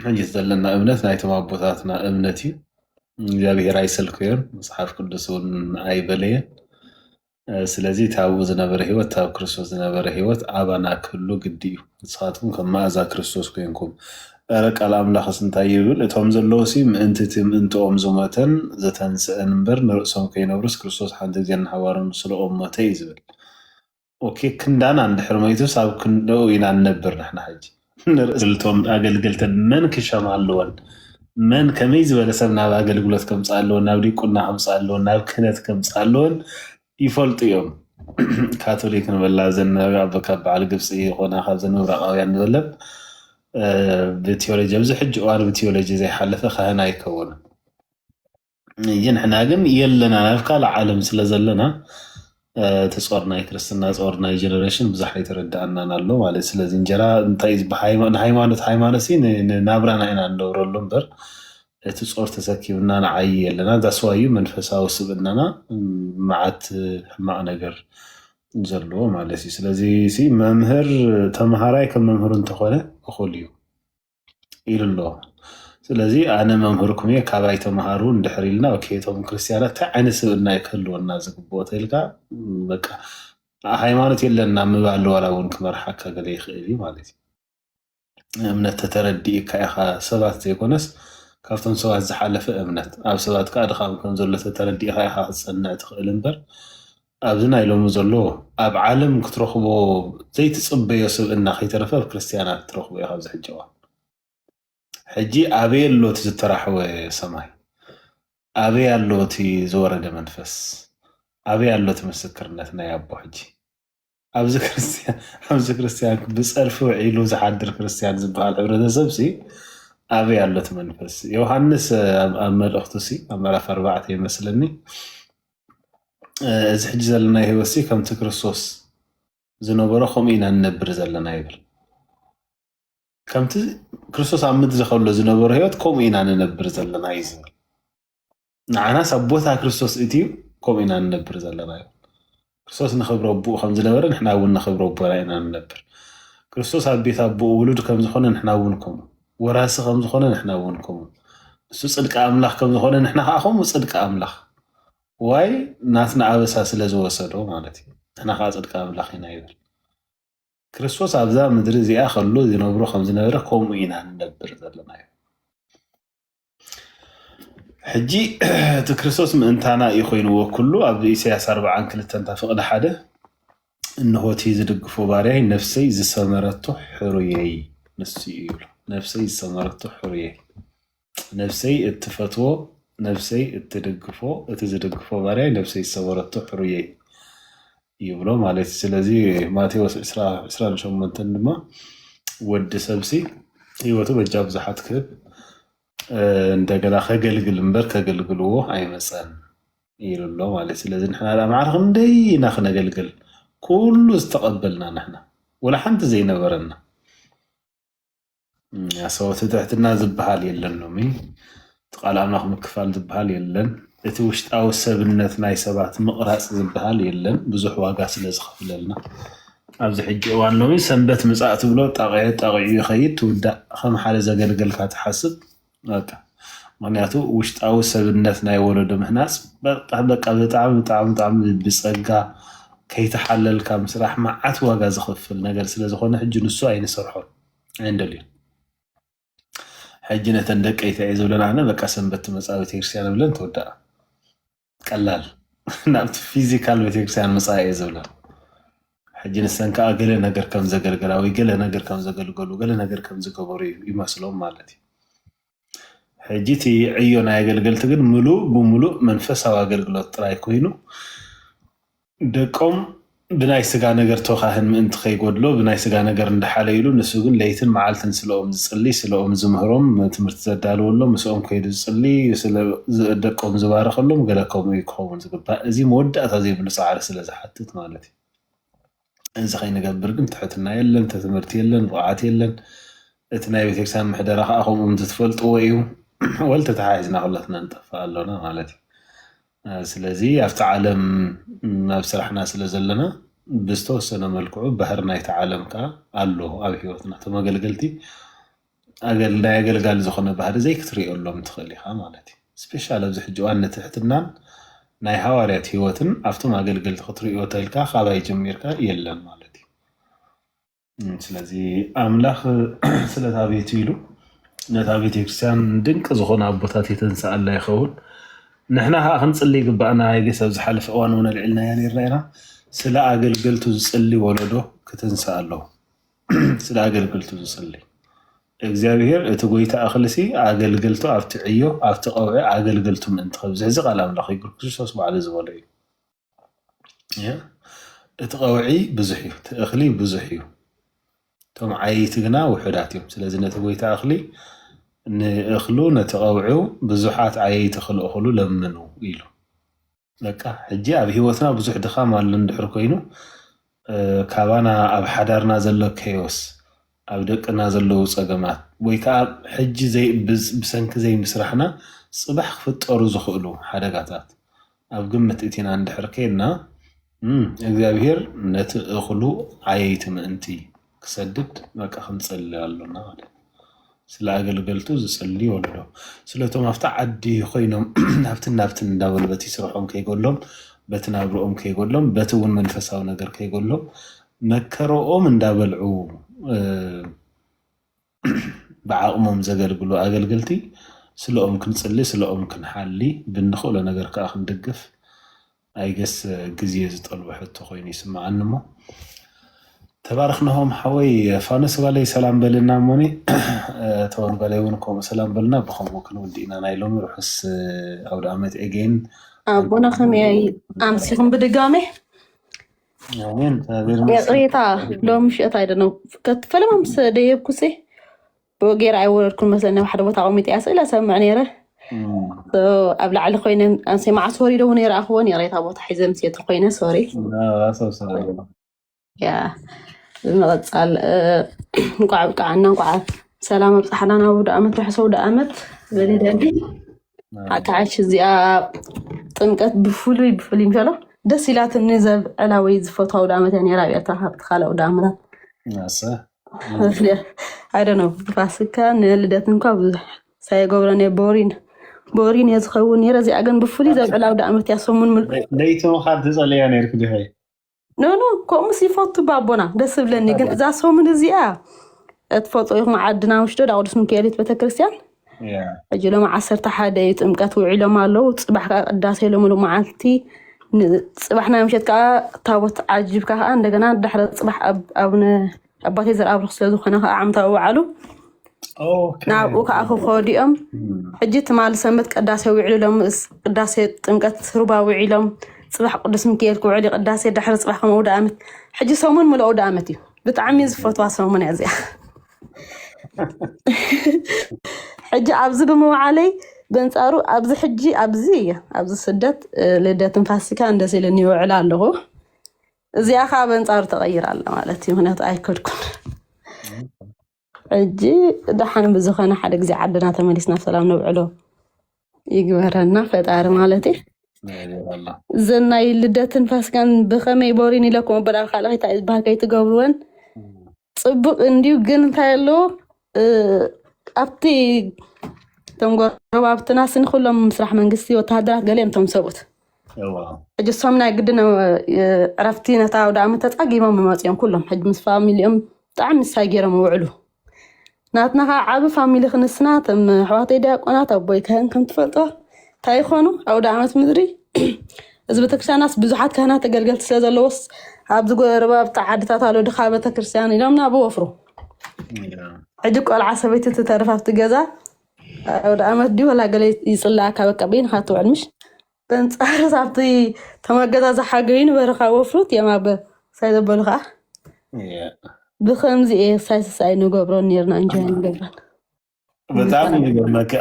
ሕጂ ዘለና እምነት ናይቶም ኣቦታትና እምነት እዩ እግዚኣብሄር ኣይሰልከዮን መፅሓፍ ቅዱስ እውን ኣይበለየን ስለዚ እቲ ኣብኡ ዝነበረ ሕይወት እቲ ኣብ ክርስቶስ ዝነበረ ሕይወት ኣባና ክህሉ ግዲ እዩ። ንስኻትኩም ከም መኣዛ ክርስቶስ ኮይንኩም። እረ ቃል ኣምላኽስ እንታይ ይብል እቶም ዘለዉሲ ምእንቲ እቲ ምእንትኦም ዝሞተን ዝተንስእን እምበር ንርእሶም ከይነብሩስ ክርስቶስ ሓንቲ ግዜ ንሓዋሩ ንስለኦም ሞተ እዩ ዝብል ኦኬ ክንዳና እንድሕር ሞይቱስ ኣብ ክንደኡ ኢና ንነብር ንሕና ሕጂ ንርእሰን እቶም ኣገልገልተን መን ክሸማ ኣለወን፣ መን ከመይ ዝበለ ሰብ ናብ ኣገልግሎት ከምጽኣ ኣለወን፣ ናብ ዲቁና ከምጽኣ ኣለወን፣ ናብ ክህነት ከምጽኣ ኣለወን ይፈልጡ እዮም። ካቶሊክ ንበላ እዘን ናብ ኣቦ ካብ በዓል ግብጺ ይኾና ካብዘን ምብራቓውያን ንበለን ብቲዮሎጂ ኣብዚ ሕጂ እዋን ብቲዮሎጂ ዘይሓለፈ ካህን ኣይከውንን። ንሕና ግን የለና ናብ ካልእ ዓለም ስለ ዘለና እቲ ፆር ናይ ክርስትና ፆር ናይ ጀነሬሽን ብዙሕ ኣይተረድኣናን ኣሎ ማለት እዩ። ስለዚ እንጀራ እንታይ እዩ ዝበሃል? ሃይማ- ንሃይማኖት ሃይማኖት ሲ ን- ንናብራና ኢና ንነብረሉ እምበር እቲ ፆር ተሰኪምና ንዓይ የለና ዛስዋዩ መንፈሳዊ ስብእናና እም፣ መዓት ሕማቕ ነገር ዘለዎ ማለት እዩ። ስለዚ ሲ መምህር ተምሃራይ ከም መምህሩ እንተኾነ እኹል እዩ። ኢሉ ኣሎ ስለዚ ኣነ መምህርኩም እየ ካባይ ተምሃሩ እንድሕር ኢልና ኦኬ እቶም ክርስትያናት እንታይ ዓይነት ስብእና እዩ ክህልወና ዝግብኦ ተልካ በቃ ሃይማኖት የለና ምባል ዋላ እውን ክመርሓካ ገለ ይኽእል እዩ ማለት እዩ እምነት ተተረዲእካ ኢኻ ሰባት ዘይኮነስ ካብቶም ሰባት ዝሓለፈ እምነት ኣብ ሰባት ከዓ ድኻም ከም ዘሎ ተተረዲእኻ ኢኻ ክትፀንዕ ትኽእል እምበር ኣብዚ ናይ ሎሚ ዘሎ ኣብ ዓለም ክትረኽቦ ዘይትጽበዮ ስብእና ከይተረፈ ኣብ ክርስትያናት ትረኽቦ ኢኻ ኣብዚ ሕጂ እዋን። ሕጂ ኣበይ ኣሎ እቲ ዝተራሕወ ሰማይ? ኣበይ ኣሎ እቲ ዝወረደ መንፈስ? ኣበይ ኣሎ እቲ ምስክርነት ናይ ኣቦ ሕጂ? ኣብዚ ክርስትያን ብፀርፊ ውዒሉ ዝሓድር ክርስትያን ዝበሃል ሕብረተሰብ ሲ ኣበይ ኣሎ እቲ መንፈስ? ዮሃንስ ኣብ መልእኽቱ ሲ ኣብ ምዕራፍ ኣርባዕተ ይመስለኒ እዚ ሕጂ ዘለና ህይወት ሲ ከምቲ ክርስቶስ ዝነበሮ ከምኡ ኢና ንነብር ዘለና ይብል። ከምቲ ክርስቶስ ኣብ ምድሪ ከሎ ዝነበሮ ህይወት ከምኡ ኢና ንነብር ዘለና እዩ ዝብል ንዓናስ ኣብ ቦታ ክርስቶስ እትዩ ከምኡ ኢና ንነብር ዘለና እዩ ክርስቶስ ንክብረ ኣቦኡ ከም ዝነበረ ንሕና እውን ንክብረ ኣቦና ኢና ንነብር ክርስቶስ ኣብ ቤት ኣቦኡ ውሉድ ከም ዝኾነ ንሕና እውን ከምኡ ወራሲ ከም ዝኾነ ንሕና እውን ከምኡ ንሱ ፅድቂ ኣምላኽ ከም ዝኾነ ንሕና ከዓ ከምኡ ፅድቂ ኣምላኽ ዋይ ናትና ኣበሳ ስለ ዝወሰዶ ማለት እዩ ንሕና ከዓ ፅድቂ ኣምላኽ ኢና ይብል ክርስቶስ ኣብዛ ምድሪ እዚኣ ከሎ ዝነብሮ ከም ዝነበረ ከምኡ ኢና ንነብር ዘለና እዩ ሕጂ እቲ ክርስቶስ ምእንታና እዩ ኮይንዎ ኩሉ ኣብ ኢሳያስ ኣርብዓን ክልተን እታ ፍቕዲ ሓደ እንሆቲ ዝድግፎ ባርያይ ነፍሰይ ዝሰመረቶ ሕሩየይ ንሱ እዩ ይብሎ ነፍሰይ ዝሰመረቶ ሕሩየይ ነፍሰይ እትፈትዎ ነፍሰይ እትድግፎ እቲ ዝድግፎ ባርያይ ነፍሰይ ዝሰመረቶ ሕሩየይ ይብሎ ማለት እዩ ስለዚ ማቴዎስ ዕስራ ዕስራን ሸሞንተን ድማ ወዲ ሰብሲ ህይወቱ በጃ ብዙሓት ክህብ እንደገና ከገልግል እምበር ከገልግልዎ ኣይመፀን ኢሉ ኣሎ ማለት እዩ ስለዚ ንሕና ዳ ማዕረ ክንደይ ኢና ክነገልግል ኩሉ ዝተቐበልና ንሕና ወላ ሓንቲ ዘይነበረና ኣሰወቲ ትሕትና ዝበሃል የለን ሎሚ እቲ ቃል ኣምላኽ ምክፋል ዝበሃል የለን እቲ ውሽጣዊ ሰብነት ናይ ሰባት ምቕራፅ ዝበሃል የለን ብዙሕ ዋጋ ስለ ዝኸፍለልና ኣብዚ ሕጂ እዋን ሎሚ ሰንበት ምፃእ ትብሎ ጣቂዑ ጣቂዑ ይኸይድ ትውዳእ ከም ሓደ ዘገልገልካ ትሓስብ በቃ ምክንያቱ ውሽጣዊ ሰብነት ናይ ወለዶ ምህናፅ በጣ- በቃ ብጣዕሚ ብጣዕሚ ብጣዕሚ ብፀጋ ከይተሓለልካ ምስራሕ መዓት ዋጋ ዘኽፍል ነገር ስለ ዝኾነ ሕጂ ንሱ ኣይንሰርሖን ኣይንደልዮን ሕጂ ነተን ደቀይ ተይ ዝብለን ኣነ በቃ ሰንበት ትመፃ ቤተክርስትያን ብለን ተወዳኣ ቀላል ናብቲ ፊዚካል ቤተክርስትያን ምፃእ እየ ዝብላ ሕጂ ንሰን ከዓ ገለ ነገር ከም ዘገልገላ ወይ ገለ ነገር ከም ዘገልገሉ ገለ ነገር ከም ዝገበሩ ይመስሎም ማለት እዩ ሕጂ እቲ ዕዮ ናይ ኣገልገልቲ ግን ምሉእ ብምሉእ መንፈሳዊ ኣገልግሎት ጥራይ ኮይኑ ደቆም ብናይ ሥጋ ነገር ተካህን ምእንቲ ከይጎድሎ ብናይ ሥጋ ነገር እንዳሓለዩሉ ንሱ ግን ለይትን መዓልትን ስለኦም ዝጽሊ ስለኦም ዝምህሮም ትምህርቲ ዘዳልወሎም ምሰኦም ከይዱ ዝጽሊ ስለ ደቆም ዝባርኸሎም ገለ ከምኡ እዩ ክኸውን ዝግባእ እዚ መወዳእታ ዘይብሉ ጻዕሪ ስለ ዝሓትት ማለት እዩ እዚ ከይንገብር ግን ትሕትና የለን ትምህርቲ የለን ብቕዓት የለን እቲ ናይ ቤተክርስቲያን ምሕደራ ከዓ ከምኡ እንትትፈልጥዎ እዩ ወልተ ተሓሒዝና ኩላትና ንጠፍእ ኣሎና ማለት እዩ ስለዚ ኣብቲ ዓለም ኣብ ስራሕና ስለ ዘለና ብዝተወሰነ መልክዑ ባህሪ ናይቲ ዓለም ከዓ ኣሎ ኣብ ሂወትና እቶም ኣገልገልቲ ናይ ኣገልጋሊ ዝኾነ ባህሪ ዘይክትርእየሎም ትኽእል ኢኻ ማለት እዩ ስፔሻል ኣብዚ ሕጂ እዋን ንትሕትናን ናይ ሃዋርያት ሂወትን ኣብቶም ኣገልገልቲ ክትርእዮ ተልካ ካባይ ጀሚርካ የለን ማለት እዩ። ስለዚ ኣምላኽ ስለታ ቤቱ ኢሉ ነታ ቤተክርስትያን ድንቂ ዝኾነ ኣቦታት የተንስኣላ ይኸውን። ንሕና ከዓ ክንፅሊ ይግባእና። የጌስ ኣብ ዝሓለፈ እዋን እውን ኣልዒልናያ ነርና ኢና። ስለ ኣገልገልቱ ዝፅሊ ወለዶ ክትንስእ ኣለዎ። ስለ ኣገልገልቱ ዝፅሊ እግዚኣብሔር እቲ ጎይታ እኽልሲ ኣገልገልቱ ኣብቲ ዕዮ ኣብቲ ቀውዒ ኣገልገልቱ ምእንቲ ከብዝሕ እዚ ቃል ኣምላኽ እዩ ክርስቶስ ባዕሉ ዝበሎ እዩ። እቲ ቀውዒ ብዙሕ እዩ፣ እቲ እኽሊ ብዙሕ እዩ፣ እቶም ዓየይቲ ግና ውሑዳት እዮም። ስለዚ ነቲ ጎይታ እኽሊ ንእኽሉ ነቲ ቀውዒው ብዙሓት ዓየይቲ ክልእኽሉ ለምኑ ኢሉ። በቃ ሕጂ ኣብ ሂወትና ብዙሕ ድኻም ኣሎ እንድሕር ኮይኑ ካባና ኣብ ሓዳርና ዘሎ ከዮስ ኣብ ደቅና ዘለዉ ጸገማት ወይ ከኣ ሕጂ ብሰንኪ ዘይምስራሕና ጽባሕ ክፍጠሩ ዝኽእሉ ሓደጋታት ኣብ ግምት እቲና እንድሕር ኬድና፣ እግዚኣብሄር ነቲ እኽሉ ዓየይቲ ምእንቲ ክሰድድ በቃ ክንጽሊ ኣሎና ማለት እዩ። ስለ ኣገልገልቱ ዝጽሊ ወለዶ። ስለ እቶም ኣብቲ ዓዲ ኮይኖም ናብትን ናብትን እንዳበሉ በቲ ስርሖም ከይጎሎም፣ በቲ ናብርኦም ከይጎሎም፣ በቲ እውን መንፈሳዊ ነገር ከይጎሎም መከረኦም እንዳበልዑ ብዓቕሞም ዘገልግሉ ኣገልገልቲ ስለኦም ክንጽሊ ስለኦም ክንሓሊ ብንኽእሎ ነገር ከዓ ክንድግፍ ኣይገስ ግዜ ዝጠልቦ ሕቶ ኮይኑ ይስምዓኒ እሞ ተባረኽናሆም ሓወይ ፋኖስ ጓለይ ሰላም በልና እሞኒ ተወን ጓለይ እውን ከምኡ ሰላም በልና ብከምኡ ክንውድ ኢና ናይ ሎሚ ርሑስ ኣውደ ዓመት ኤጌን ኣቦና ከመይ ኣምሲኹም ብድጋሜ ይቅሬታ ሎም ምሽት ኣይደ ነው ፈለማ ምስ ደየብኩ ሴ ብወጌር ኣይወረድኩን መስለኒ ኣብ ሓደ ቦታ ቆሚጠ እያ ስእለ ሰምዕ ነይረ ኣብ ላዕሊ ኮይነ ኣንሴ መዓስ ወሪደ እውን ይረኣኽዎን ይቅሬታ ቦታ ሒዘ ምስ የቱ ኮይነ ሶሪ ያ ብምቕፃል እንኳዕ ብቃዓና እንኳዓ ሰላም ኣብፅሓና ናብ ውድ ኣመት ርሕሰ ውድ ኣመት በሌ ደንዲ ሓካዓሽ እዚኣ ጥምቀት ብፍሉይ ብፍሉይ ምሸሎ ደስ ኢላትኒ ዘብ ዕላወይ ዝፈትዋ ውዳ ዓመት እያ ነራ ኣብያታ ካብቲ ካልእ ውዳ ዓመታት ኣይደ ነው ፋሲካ ንልደት እንኳ ብዙሕ ሳይገብሮ ነ ቦሪን ቦሪን እየ ዝኸውን ነረ እዚኣ ግን ብፍሉይ ዘብ ዕላ ውዳ ዓመት እያ ሰሙን ምልለይቶም ካብ ተፀለያ ነርኩ ድኸ ኖኖ ከምኡስ ይፈቱ ባቦና ደስ ዝብለኒ ግን እዛ ሰሙን እዚኣ እትፈጡ ኢኹም ዓድና ውሽዶ ዳቅዱስ ምክኤሊት ቤተክርስትያን ሕጂ ሎም ዓሰርተ ሓደ እዩ ጥምቀት ውዒሎም ኣለዉ ፅባሕ ከዓ ቅዳሴ ሎምሉ መዓልቲ ፅባሕ ናይ ምሸት ከዓ ታቦት ዓጅብካ ከዓ እንደገና ዳሕረ ፅባሕ ኣብነ ኣባቴ ዘርኣብሩኽ ስለዝኾነ ከዓ ዓመታዊ በዓሉ ናብኡ ከዓ ክኸዱ እዮም ሕጂ ትማሊ ሰንበት ቅዳሴ ውዕሉሎም ቅዳሴ ጥምቀት ሩባ ውዒሎም ፅባሕ ቅዱስ ምክኤል ክውዕል እዩ ቅዳሴ ድሕሪ ፅባሕ ከም ኣውደ ኣመት ሕጂ ሰሙን ምሉእ ኣውደ ኣመት እዩ ብጣዕሚ ዝፈትዋ ሰሙን እያ እዚኣ ሕጂ ኣብዚ ብምውዓለይ በንፃሩ ኣብዚ ሕጂ ኣብዚ እየ ኣብዚ ስደት ልደትን ፋሲካ እንደስ ኢለኒ ይውዕል ኣለኹ እዚኣ ከዓ በንፃሩ ተቐይራ ኣላ ማለት እዩ ምክንያቱ ኣይከድኩን ሕጂ ደሓን ብዝኾነ ሓደ ግዜ ዓድና ተመሊስና ብሰላም ነብዕሎ ይግበረና ፈጣሪ ማለት እዩ እዚ ናይ ልደትን ፋስጋን ብከመይ ቦሪን ኢለኩም ኣበላ ካልኣይታ ዝበሃል ከይትገብርወን ፅብቅ እንዲዩ ግን እንታይ ኣለዎ እ፣ ኣብቲ እቶም ጎረባብትና ስኒ ኩሎም ምስራሕ መንግስቲ ወተሃደራት ገሊኦም እቶም ሰብኡት እዋ ሕጂ እሶም ናይ ግድን እ፣ ዕረፍቲ ነታ ኣውደ ዓመት ተፃጊሞም ይመፅኦም ኩሎም ሕጂ ምስ ፋሚሊኦም ብጣዕሚ ምሳይ ገይሮም ይውዕሉ ናትና ከዓ ዓብ ፋሚሊ ክንስና እቶም ኣሕዋተይ ዲያቆናት ኣቦይ ካህን ከም ትፈልጦ እንታይ ይኾኑ ኣውደ ዓመት ምድሪ እዚ ቤተክርስትያናስ ብዙሓት ካህናት ተገልገልቲ ስለ ዘለዎስ ኣብዚ ጎረባብቲ ዓድታት ኣሎ ድኻ ቤተክርስትያን ኢሎም ናብ ወፍሩ ሕጂ ቆልዓ ሰበይቲ ትተርፍ ኣብቲ ገዛ ኣውደ ዓመት ድዩ ወላ ገለ ይፅለኣካ በቃ በይንካ ትውዕል ምሽ በንጻርስ ኣብቲ ተማገዛዝ ሓገዩ ንበረኻ ወፍሩት እዮም ኣብ ሳይ ዘበሉ ከዓ ብከምዚ እየ ሳይ ስሳይ ንገብሮን ነርና እንጆ ንገብረን በጣም ይገርመካ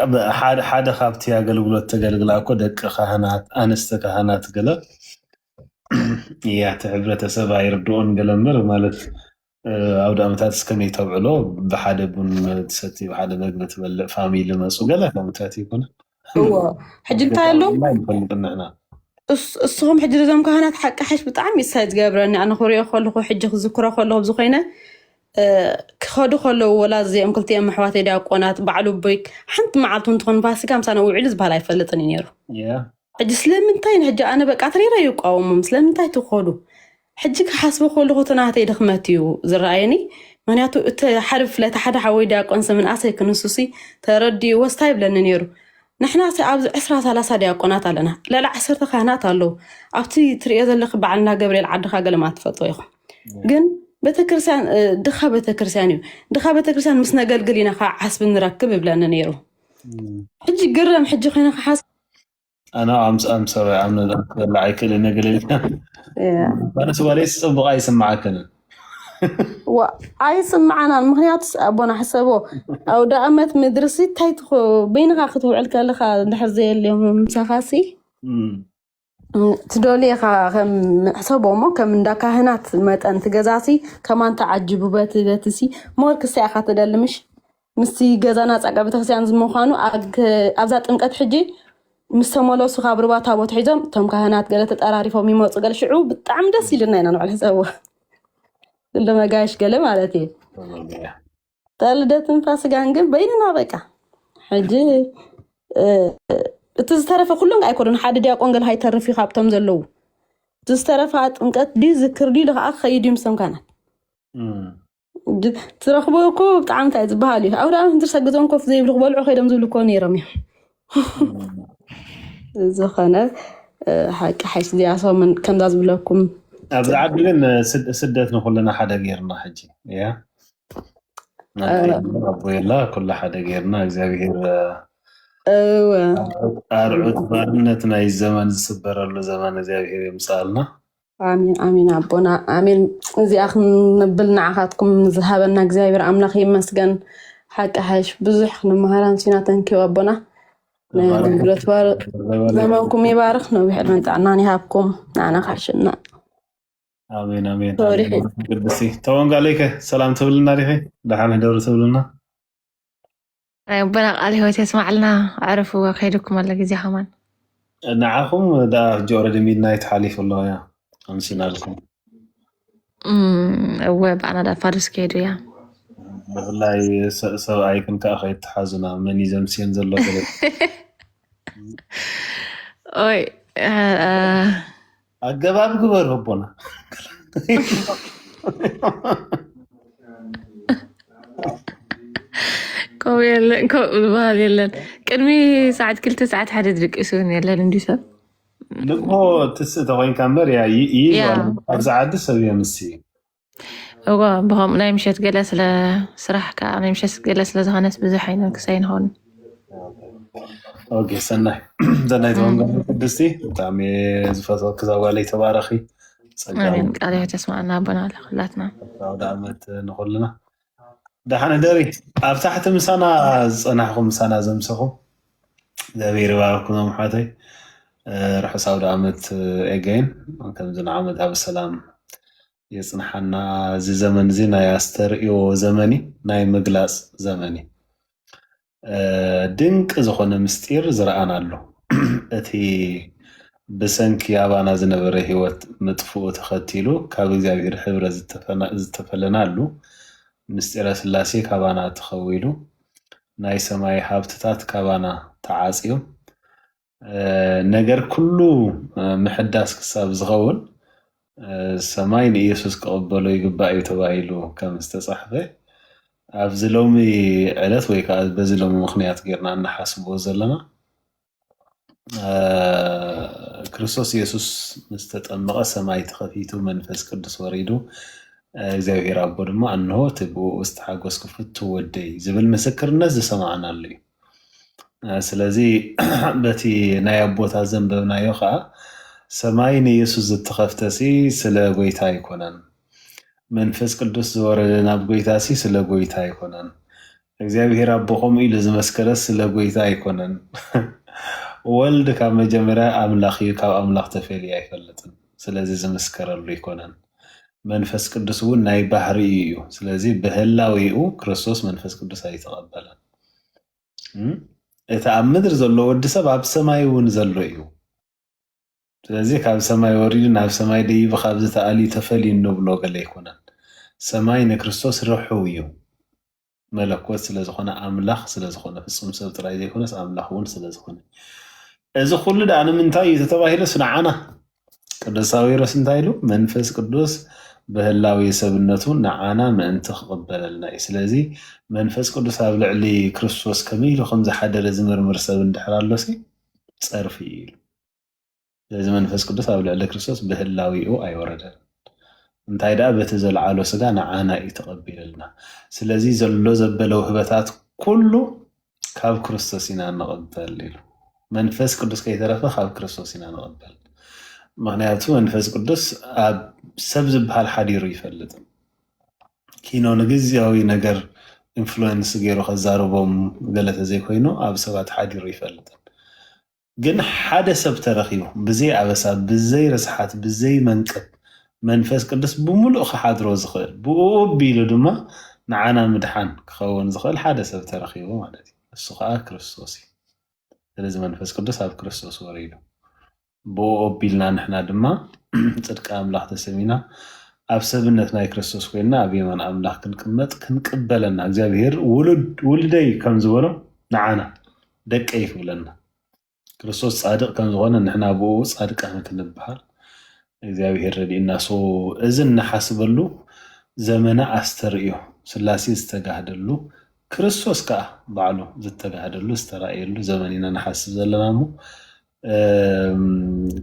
ሓደ ካብቲ ኣገልግሎት ተገልግላ እኮ ደቂ ካህናት ኣንስተ ካህናት ገለ እያ እቲ ሕብረተሰብ ኣይርድኦን ገለ እምበር ማለት ኣውዳመታትስ ከመይ ተብዕሎ ብሓደ ቡን ትሰቲ ብሓደ መግቢ ትበልዕ ፋሚሊ መፁ ገለ ከምታት ይኩን እዎ ሕጂ እንታይ ኣሎ ንፈልጥ ንሕና እስኹም ሕጂ እዞም ካህናት ሓቂ ሓሽ ብጣዕሚ ይሳይ ዝገብረኒ ኣነ ክሪኦ ከለኹ ሕጂ ክዝክሮ ከለኹ ኣብዚ ኮይነ ክኸዱ ከለዉ ወላ እዚኦም ክልቲኦም ኣሕዋተይ ዲያቆናት ባዕሉ ቦይ ሓንቲ መዓልቱ እንትኾን ፋሲካ ምሳና ውዒሉ ዝበሃል ኣይፈልጥን እዩ ነይሩ ሕጂ ስለምንታይ ሕጂ ኣነ በቃ ትሪረ ይቋወሞም ስለምንታይ ትኸዱ ሕጂ ክሓስቦ ከለኹ እቲ ናተይ ድኽመት እዩ ዝረኣየኒ ምክንያቱ እቲ ሓደ ብፍላይ እቲ ሓደ ሓወይ ዲያቆን ስምንኣሰይ ክንሱሲ ተረዲእዎስ ታይ ይብለኒ ነይሩ ንሕና ሰ ኣብዚ ዕስራ ሰላሳ ዲያቆናት ኣለና ልዕሊ ዓሰርተ ካህናት ኣለው ኣብቲ ትርእዮ ዘለኺ በዓል እንዳ ገብርኤል ዓድኻ ገለማ ትፈልጥዎ ኢኹም ግን ቤተክርስትያን እ፣ ድኻ ቤተክርስትያን እዩ ድኻ ቤተክርስትያን ምስ ነገልግል ኢና ከዓ ዓስቢ ንረክብ ይብለኒ ነይሩ ሕጂ ግረም ሕጂ ኮይነ ክሓስ ኣነ ኣምፅኣም ሰብኣይ ኣብ ነዛ ክትበላ ኣይክእልን ነገለ ኢልካ ባነስ ጓለይ ፅቡቅ ኣይስምዓክን ኣይስምዓናን ምክንያቱ ኣቦና ሕሰቦ ኣብ ዳኣመት ምድሪ ሲ እንታይ ትኾ በይንካ ክትውዕል ከለካ ድሕር ዘየልዮም ምሳካ ሲ ትደልየካ ከም ሕሰቦ እሞ ከም እንዳ ካህናት መጠን ትገዛሲ ከማን ተዓጅቡ በቲ በቲ ሲ ሞር ክሳያካ ትደልምሽ ምስቲ ገዛና ፃጋ ቤተክርስትያን ዝምዃኑ ኣብዛ ጥምቀት ሕጂ ምስ ተመለሱ ካብ ርባ ታቦት ሒዞም እቶም ካህናት ገለ ተጠራሪፎም ይመፁ ገለ ሽዑ ብጣዕሚ ደስ ኢልና ኢና ንዕል ሕሰብዎ እንደ መጋየሽ ገለ ማለት እዩ ተልደትን ፋስጋን ግን በይንና በቃ ሕጂ እቲ ዝተረፈ ኩሎም ኣይኮኑን ሓደ ዲያቆን ገለ ሃይተርፍ እዩ ካብቶም ዘለዉ እቲ ዝተረፈ ጥምቀት ድዩ ዝክር ድዩ ከዓ ክኸይድ እዩ ምሶም ካህናት ትረክቦ እኮ ብጣዕሚ እንታይ ዝበሃል እዩ ኣብርሃም ህንድርሳ ገዝኦም ኮፍ ዘይብሉ ክበልዑ ከይዶም ዝብሉ እኮ ነይሮም እዮም ዝኾነ ሓቂ ሓይሽ ዚያሶምን ከምዛ ዝብለኩም ኣብዚ ዓዲ ግን ስደት ንኩልና ሓደ ገይርና ሕጂ እያ ኣቦ የላ ኩሉ ሓደ ገይርና እግዚኣብሄር ኣርዑት ባርነት ናይ ዘመን ዝስበረሉ ዘመን እግዚኣብሄር የምፅኣልና ኣሜን ኣሜን ኣቦና ኣሜን። እዚኣ ክንብል ንዓኻትኩም ዝሃበና እግዚኣብሔር ኣምላኽ ይመስገን። ሓቂ ሓይሽ ብዙሕ ክንመሃር ኣምሲና ተንኪው ኣቦና ናይ ተባረኽ ኣገልግሎት ባር ተባረኽ። ዘመንኩም ይባርኽ፣ ነዊሕ ዕድመን ጥዕናን ይሃብኩም። ንዓና ካሕሽና ኣሜን ኣሜን ተወሪሑ ኣሜን እዩ። ቅድስቲ ተወንጋለይከ ሰላም ትብልና ዲኺ ደሓን ህደሩ ትብልና ኣቦና ቃል ህይወት የስማዕልና ኣዕረፉ ከይድኩም ኣሎ ግዜ ከማን ንዓኹም ዳ ሕጂ ኦረዲ ሚድናይት ሓሊፉ ኣሎ ያ ኣምሲናልኩም እወ ብኣና ዳ ፋዱስ ከይዱ እያ ብፍላይ ሰብኣይክን ከዓ ከይተሓዙና መን እዩ ዘምስየን ዘሎ ኦይ ኣገባብ ግበሩ ኣቦና ከምኡ የለን ከምኡ ዝበሃል የለን ቅድሚ ሰዓት ክልተ ሰዓት ሓደ ድቂሱ እውን የለን እንዲ ሰብ ንግሆ ትስእ ተኮይንካ እምበር እያ ይይዟ ኣብዚ ዓዲ ሰብ እዮም እሲ እዎ ብከምኡ ናይ ምሸት ገለ ስለ ስራሕ ከዓ ናይ ምሸት ገለ ስለዝኾነስ ብዙሕ ኣይነ ክሳይ ንኸውን ኦኬ ሰናይ ሰናይ ተወንጋ ቅድስቲ ብጣዕሚ ዝፈትወኪ ዛጓለይ ተባረኺ ጸጋ ኣሜን ቃል ሕይወት የስማዕና ኣቦና ለኩላትና ኣውደ ዓመት ንኩልና ዳሓን ህደሪ ኣብ ታሕቲ ምሳና ዝፀናሕኹም ምሳና ዘምሰኹም እግዚኣብሔር ይባርኩም ዞም ኣሕዋተይ ርሑስ ኣውደ ዓመት ኤገይን ከምዚ ንዓመት ኣብ ሰላም የፅንሓና እዚ ዘመን እዚ ናይ ኣስተርእዮ ዘመን እዩ ናይ ምግላፅ ዘመን እዩ ድንቂ ዝኾነ ምስጢር ዝረኣናሉ እቲ ብሰንኪ ኣባና ዝነበረ ህይወት ምጥፍኡ ተኸቲሉ ካብ እግዚኣብሔር ሕብረ ዝተፈለናሉ ምስጢረ ስላሴ ካባና ተኸዊሉ ናይ ሰማይ ሃብትታት ካባና ተዓጽዩ ነገር ኩሉ ምሕዳስ ክሳብ ዝኸውን ሰማይ ንኢየሱስ ክቕበሎ ይግባእ እዩ ተባሂሉ ከም ዝተጻሕፈ ኣብዚ ሎሚ ዕለት ወይ ከዓ በዚ ሎሚ ምክንያት ጌርና እንሓስቦ ዘለና ክርስቶስ ኢየሱስ ምስ ተጠመቐ ሰማይ ተኸፊቱ መንፈስ ቅዱስ ወሪዱ እግዚኣብሔር ኣቦ ድማ እንሆ እቲ ብኡ ዝተሓጎስኩ ፍቱ ወደይ ዝብል ምስክርነት ዝሰማዕናሉ እዩ። ስለዚ በቲ ናይ ኣቦታ ዘንበብናዮ ኸኣ ሰማይ ንየሱስ ዝተኸፍተሲ ስለ ጐይታ ኣይኮነን። መንፈስ ቅዱስ ዝወረደ ናብ ጐይታሲ ስለ ጐይታ ኣይኮነን። እግዚኣብሔር ኣቦ ከምኡ ኢሉ ዝመስከረስ ስለ ጐይታ ኣይኮነን። ወልድ ካብ መጀመርያ ኣምላኽ እዩ፣ ካብ ኣምላኽ ተፈልዩ ኣይፈልጥን። ስለዚ ዝምስከረሉ ኣይኮነን። መንፈስ ቅዱስ እውን ናይ ባህሪኡ እዩ። ስለዚ ብህላዌኡ ክርስቶስ መንፈስ ቅዱስ ኣይተቐበለን። እቲ ኣብ ምድሪ ዘሎ ወዲ ሰብ ኣብ ሰማይ እውን ዘሎ እዩ ስለዚ ካብ ሰማይ ወሪዱ ናብ ሰማይ ደይቡ ካብዚ ተኣልዩ ተፈልዩ እንብሎ ገለ ኣይኮነን ሰማይ ንክርስቶስ ርሑው እዩ መለኮት ስለዝኾነ ኣምላኽ ስለዝኾነ ፍጹም ሰብ ጥራይ ዘይኮነስ ኣምላኽ እውን ስለዝኾነ እዚ ኩሉ ድኣ ንምንታይ እዩ ተተባሂለስ ንዓና ቅዱስ ሳዊሮስ እንታይ ኢሉ? መንፈስ ቅዱስ ብህላዌ ሰብነቱ ንዓና ምእንቲ ክቕበለልና እዩ። ስለዚ መንፈስ ቅዱስ ኣብ ልዕሊ ክርስቶስ ከመይ ኢሉ ከም ዝሓደረ ዝምርምር ሰብ እንድሕር ኣሎሲ ጸርፊ እዩ ኢሉ። ስለዚ መንፈስ ቅዱስ ኣብ ልዕሊ ክርስቶስ ብህላዌኡ ኣይወረደን። እንታይ ደኣ በቲ ዘልዓሎ ስጋ ንዓና እዩ ተቐቢልልና። ስለዚ ዘሎ ዘበለ ውህበታት ኩሉ ካብ ክርስቶስ ኢና ንቕበል ኢሉ መንፈስ ቅዱስ ከይተረፈ ካብ ክርስቶስ ኢና ንቕበል ምክንያቱ መንፈስ ቅዱስ ኣብ ሰብ ዝበሃል ሓዲሩ ይፈልጥ ኪኖ ንግዝያዊ ነገር ኢንፍሉዌንስ ገይሩ ከዛርቦም ገለ ተዘይኮይኑ ኣብ ሰባት ሓዲሩ ይፈልጥን ግን ሓደ ሰብ ተረኺቡ ብዘይ ኣበሳ ብዘይ ርስሓት ብዘይ መንቅብ መንፈስ ቅዱስ ብምሉእ ክሓድሮ ዝኽእል ብእኡ ኣቢሉ ድማ ንዓና ምድሓን ክኸውን ዝኽእል ሓደ ሰብ ተረኺቡ ማለት እዩ ንሱ ከዓ ክርስቶስ እዩ ስለዚ መንፈስ ቅዱስ ኣብ ክርስቶስ ወሪዱ ብኡ ኣቢልና ንሕና ድማ ጽድቂ ኣምላኽ ተሰሚና ኣብ ሰብነት ናይ ክርስቶስ ኮይና ኣብ የማን ኣምላኽ ክንቅመጥ ክንቅበለና እግዚኣብሄር ውሉደይ ከም ዝበሎ ንዓና ደቀይ ክብለና ክርስቶስ ፃድቅ ከምዝኾነ ንሕና ብኡ ፃድቃን ክንበሃል እግዚኣብሔር ረድእና ሶ እዚ እናሓስበሉ ዘመነ ኣስተርእዮ ስላሴ ዝተጋህደሉ ክርስቶስ ከዓ ባዕሉ ዝተጋህደሉ ዝተራእየሉ ዘመን ኢና ንሓስብ ዘለና እሞ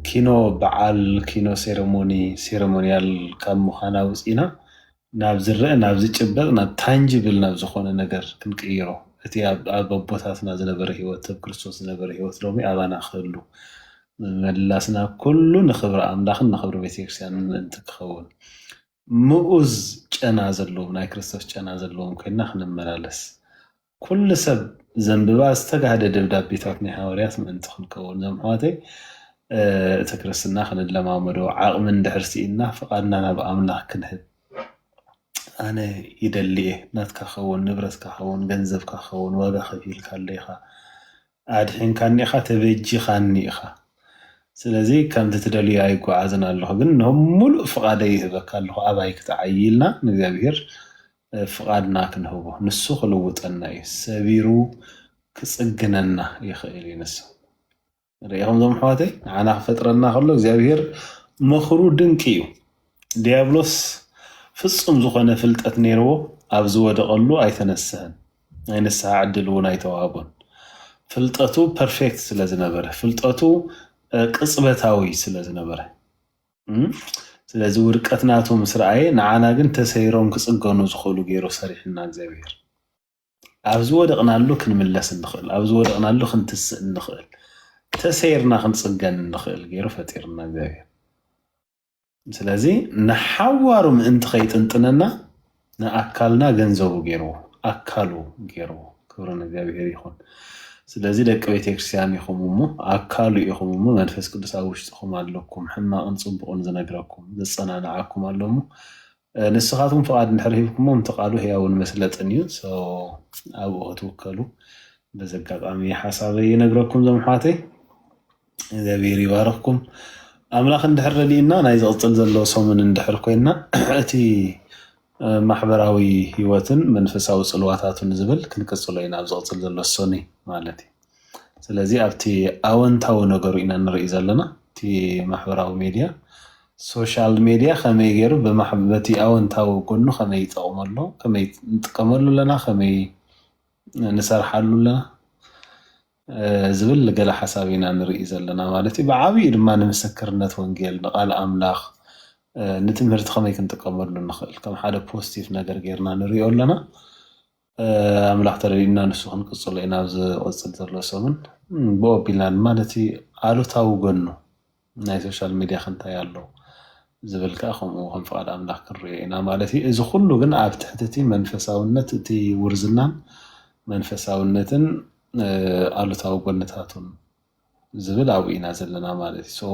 ኪኖ በዓል ኪኖ ሴረሞኒ ሴረሞኒያል ካብ ምዃን ኣውፂእና ናብ ዝረእ ናብ ዝጭበጥ ናብ ታንጅብል ናብ ዝኾነ ነገር ክንቅይሮ እቲ ኣብ ኣቦታትና ዝነበረ ህይወት ሰብ ክርስቶስ ዝነበረ ህይወት ሎሚ ኣባና ክህሉ መላስና ኩሉ ንክብሪ ኣምላኽን ንክብሪ ቤተክርስትያን ምእንቲ ክኸውን ምኡዝ ጨና ዘለዎም ናይ ክርስቶስ ጨና ዘለዎም ኮይንና ክንመላለስ ኩሉ ሰብ ዘንብባ ዝተጋህደ ደብዳቤታት ናይ ሃዋርያት ምእንቲ ክንከውን ዞም ኣሕዋተይ እቲ ክርስትና ክንለማመዶ ዓቕሚ እንድሕር ስኢንና ፍቓድና ናብ ኣምላኽ ክንህብ ኣነ ይደሊ እየ ናትካ ከውን ንብረትካ ከውን ገንዘብካ ከውን ዋጋ ከፊልካለይ ኢኻ ኣድሒንካኒ ኢኻ ተበጂኻኒ ኢኻ ስለዚ ከምቲ ትደልዮ ኣይጓዓዝን ኣለኹ ግን ንሆም ሙሉእ ፍቓደይ ይህበካ ኣለኹ ኣባይ ክትዓይ ኢልና ንእግዚኣብሄር ፍቓድና ክንህቦ ንሱ ክልውጠና እዩ ሰቢሩ ክጽግነና ይኽእል እዩ ንሱ ርኢኹም ዞም ኣሕዋተይ ንዓና ክፈጥረና ከሎ እግዚኣብሄር ምኽሩ ድንቂ እዩ ዲያብሎስ ፍጹም ዝኾነ ፍልጠት ነይርዎ ኣብ ዝወደቐሉ ኣይተነስህን ናይ ንስሓ ዕድል እውን ኣይተዋህቦን ፍልጠቱ ፐርፌክት ስለ ዝነበረ ፍልጠቱ ቅጽበታዊ ስለ ዝነበረ ስለዚ ውድቀት ናቱ ምስ ረኣየ ንዓና ግን ተሰይሮም ክጽገኑ ዝኽእሉ ገይሩ ሰሪሑና እግዚኣብሔር ኣብ ዝወደቕናሉ ክንምለስ እንኽእል ኣብ ዝወደቕናሉ ክንትስእ እንኽእል ተሰይርና ክንጽገን እንኽእል ገይሩ ፈጢርና እግዚኣብሔር ስለዚ ንሓዋሩ ምእንቲ ከይጥንጥነና ንኣካልና ገንዘቡ ጌርዎ ኣካሉ ጌርዎ ክብሪ ንእግዚኣብሄር ይኹን ስለዚ ደቂ ቤተክርስቲያን ኢኹም እሞ ኣካሉ ኢኹም እሞ መንፈስ ቅዱስ ኣብ ውሽጥኹም ኣለኩም ሕማቕን ጽቡቕን ዝነግረኩም ዘጸናንዓኩም ኣሎ እሞ ንስኻትኩም ፍቓድ እንድሕር ሂብኩሞ እቲ ቃሉ ህያውን መስለጥን እዩ ኣብኡ ክትውከሉ በዚ ኣጋጣሚ ሓሳበይ ይነግረኩም ዞም ኣሕዋተይ እግዚኣብሔር ይባርኽኩም። ኣምላኽ እንድሕር ረድእና ናይ ዝቕፅል ዘሎ ሰሙን እንድሕር ኮይና እቲ ማሕበራዊ ህይወትን መንፈሳዊ ፅልዋታቱን ዝብል ክንቅፅሎ ኢና ኣብ ዝቕፅል ዘሎ ሰኒ ማለት እዩ። ስለዚ ኣብቲ ኣወንታዊ ነገሩ ኢና ንርኢ ዘለና እቲ ማሕበራዊ ሜድያ ሶሻል ሜድያ ከመይ ገይሩ በቲ ኣወንታዊ ጎኑ ከመይ ይጠቕመሉ ከመይ ንጥቀመሉ ኣለና ከመይ ንሰርሓሉ ኣለና ዝብል ገለ ሓሳብ ኢና ንርኢ ዘለና ማለት እዩ። ብዓብይኡ ድማ ንምስክርነት ወንጌል፣ ንቃል ኣምላኽ፣ ንትምህርቲ ከመይ ክንጥቀመሉ ንኽእል ከም ሓደ ፖስቲቭ ነገር ጌርና ንሪኦ ኣለና። ኣምላኽ ተረዲኡና ንሱ ክንቅፅሎ ኢና ኣብዚ ዝቕፅል ዘሎ ሰሙን። ብኡ ኣቢልና ድማ ነቲ ኣሉታዊ ጎኑ ናይ ሶሻል ሚድያክ እንታይ ኣሎ ዝብል ከኣ ከምኡ ከም ፍቃድ ኣምላክ ክንርእዮ ኢና ማለት እዩ። እዚ ኩሉ ግን ኣብ ትሕቲ እቲ መንፈሳውነት እቲ ውርዝናን መንፈሳውነትን ኣሉታዊ ጎንታቱን ዝብል ኣብኡ ኢና ዘለና ማለት እዩ። ሶ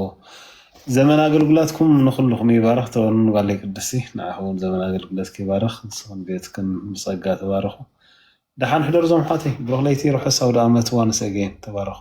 ዘመን ኣገልግሎትኩም ንኩልኩም ይባርክ ተወንን ጓለይ ቅድስቲ ንዓኪ ውን ዘመን ኣገልግሎትኪ ይባርክ ንስክን ቤትክን ብጸጋ ተባረኩ። ደሓን ሕደሩ ዞም ኣሕዋተይ ብሩክ ለይቲ ርሑስ ኣውደኣመት ዋንስ ኣገይን ተባረኩ።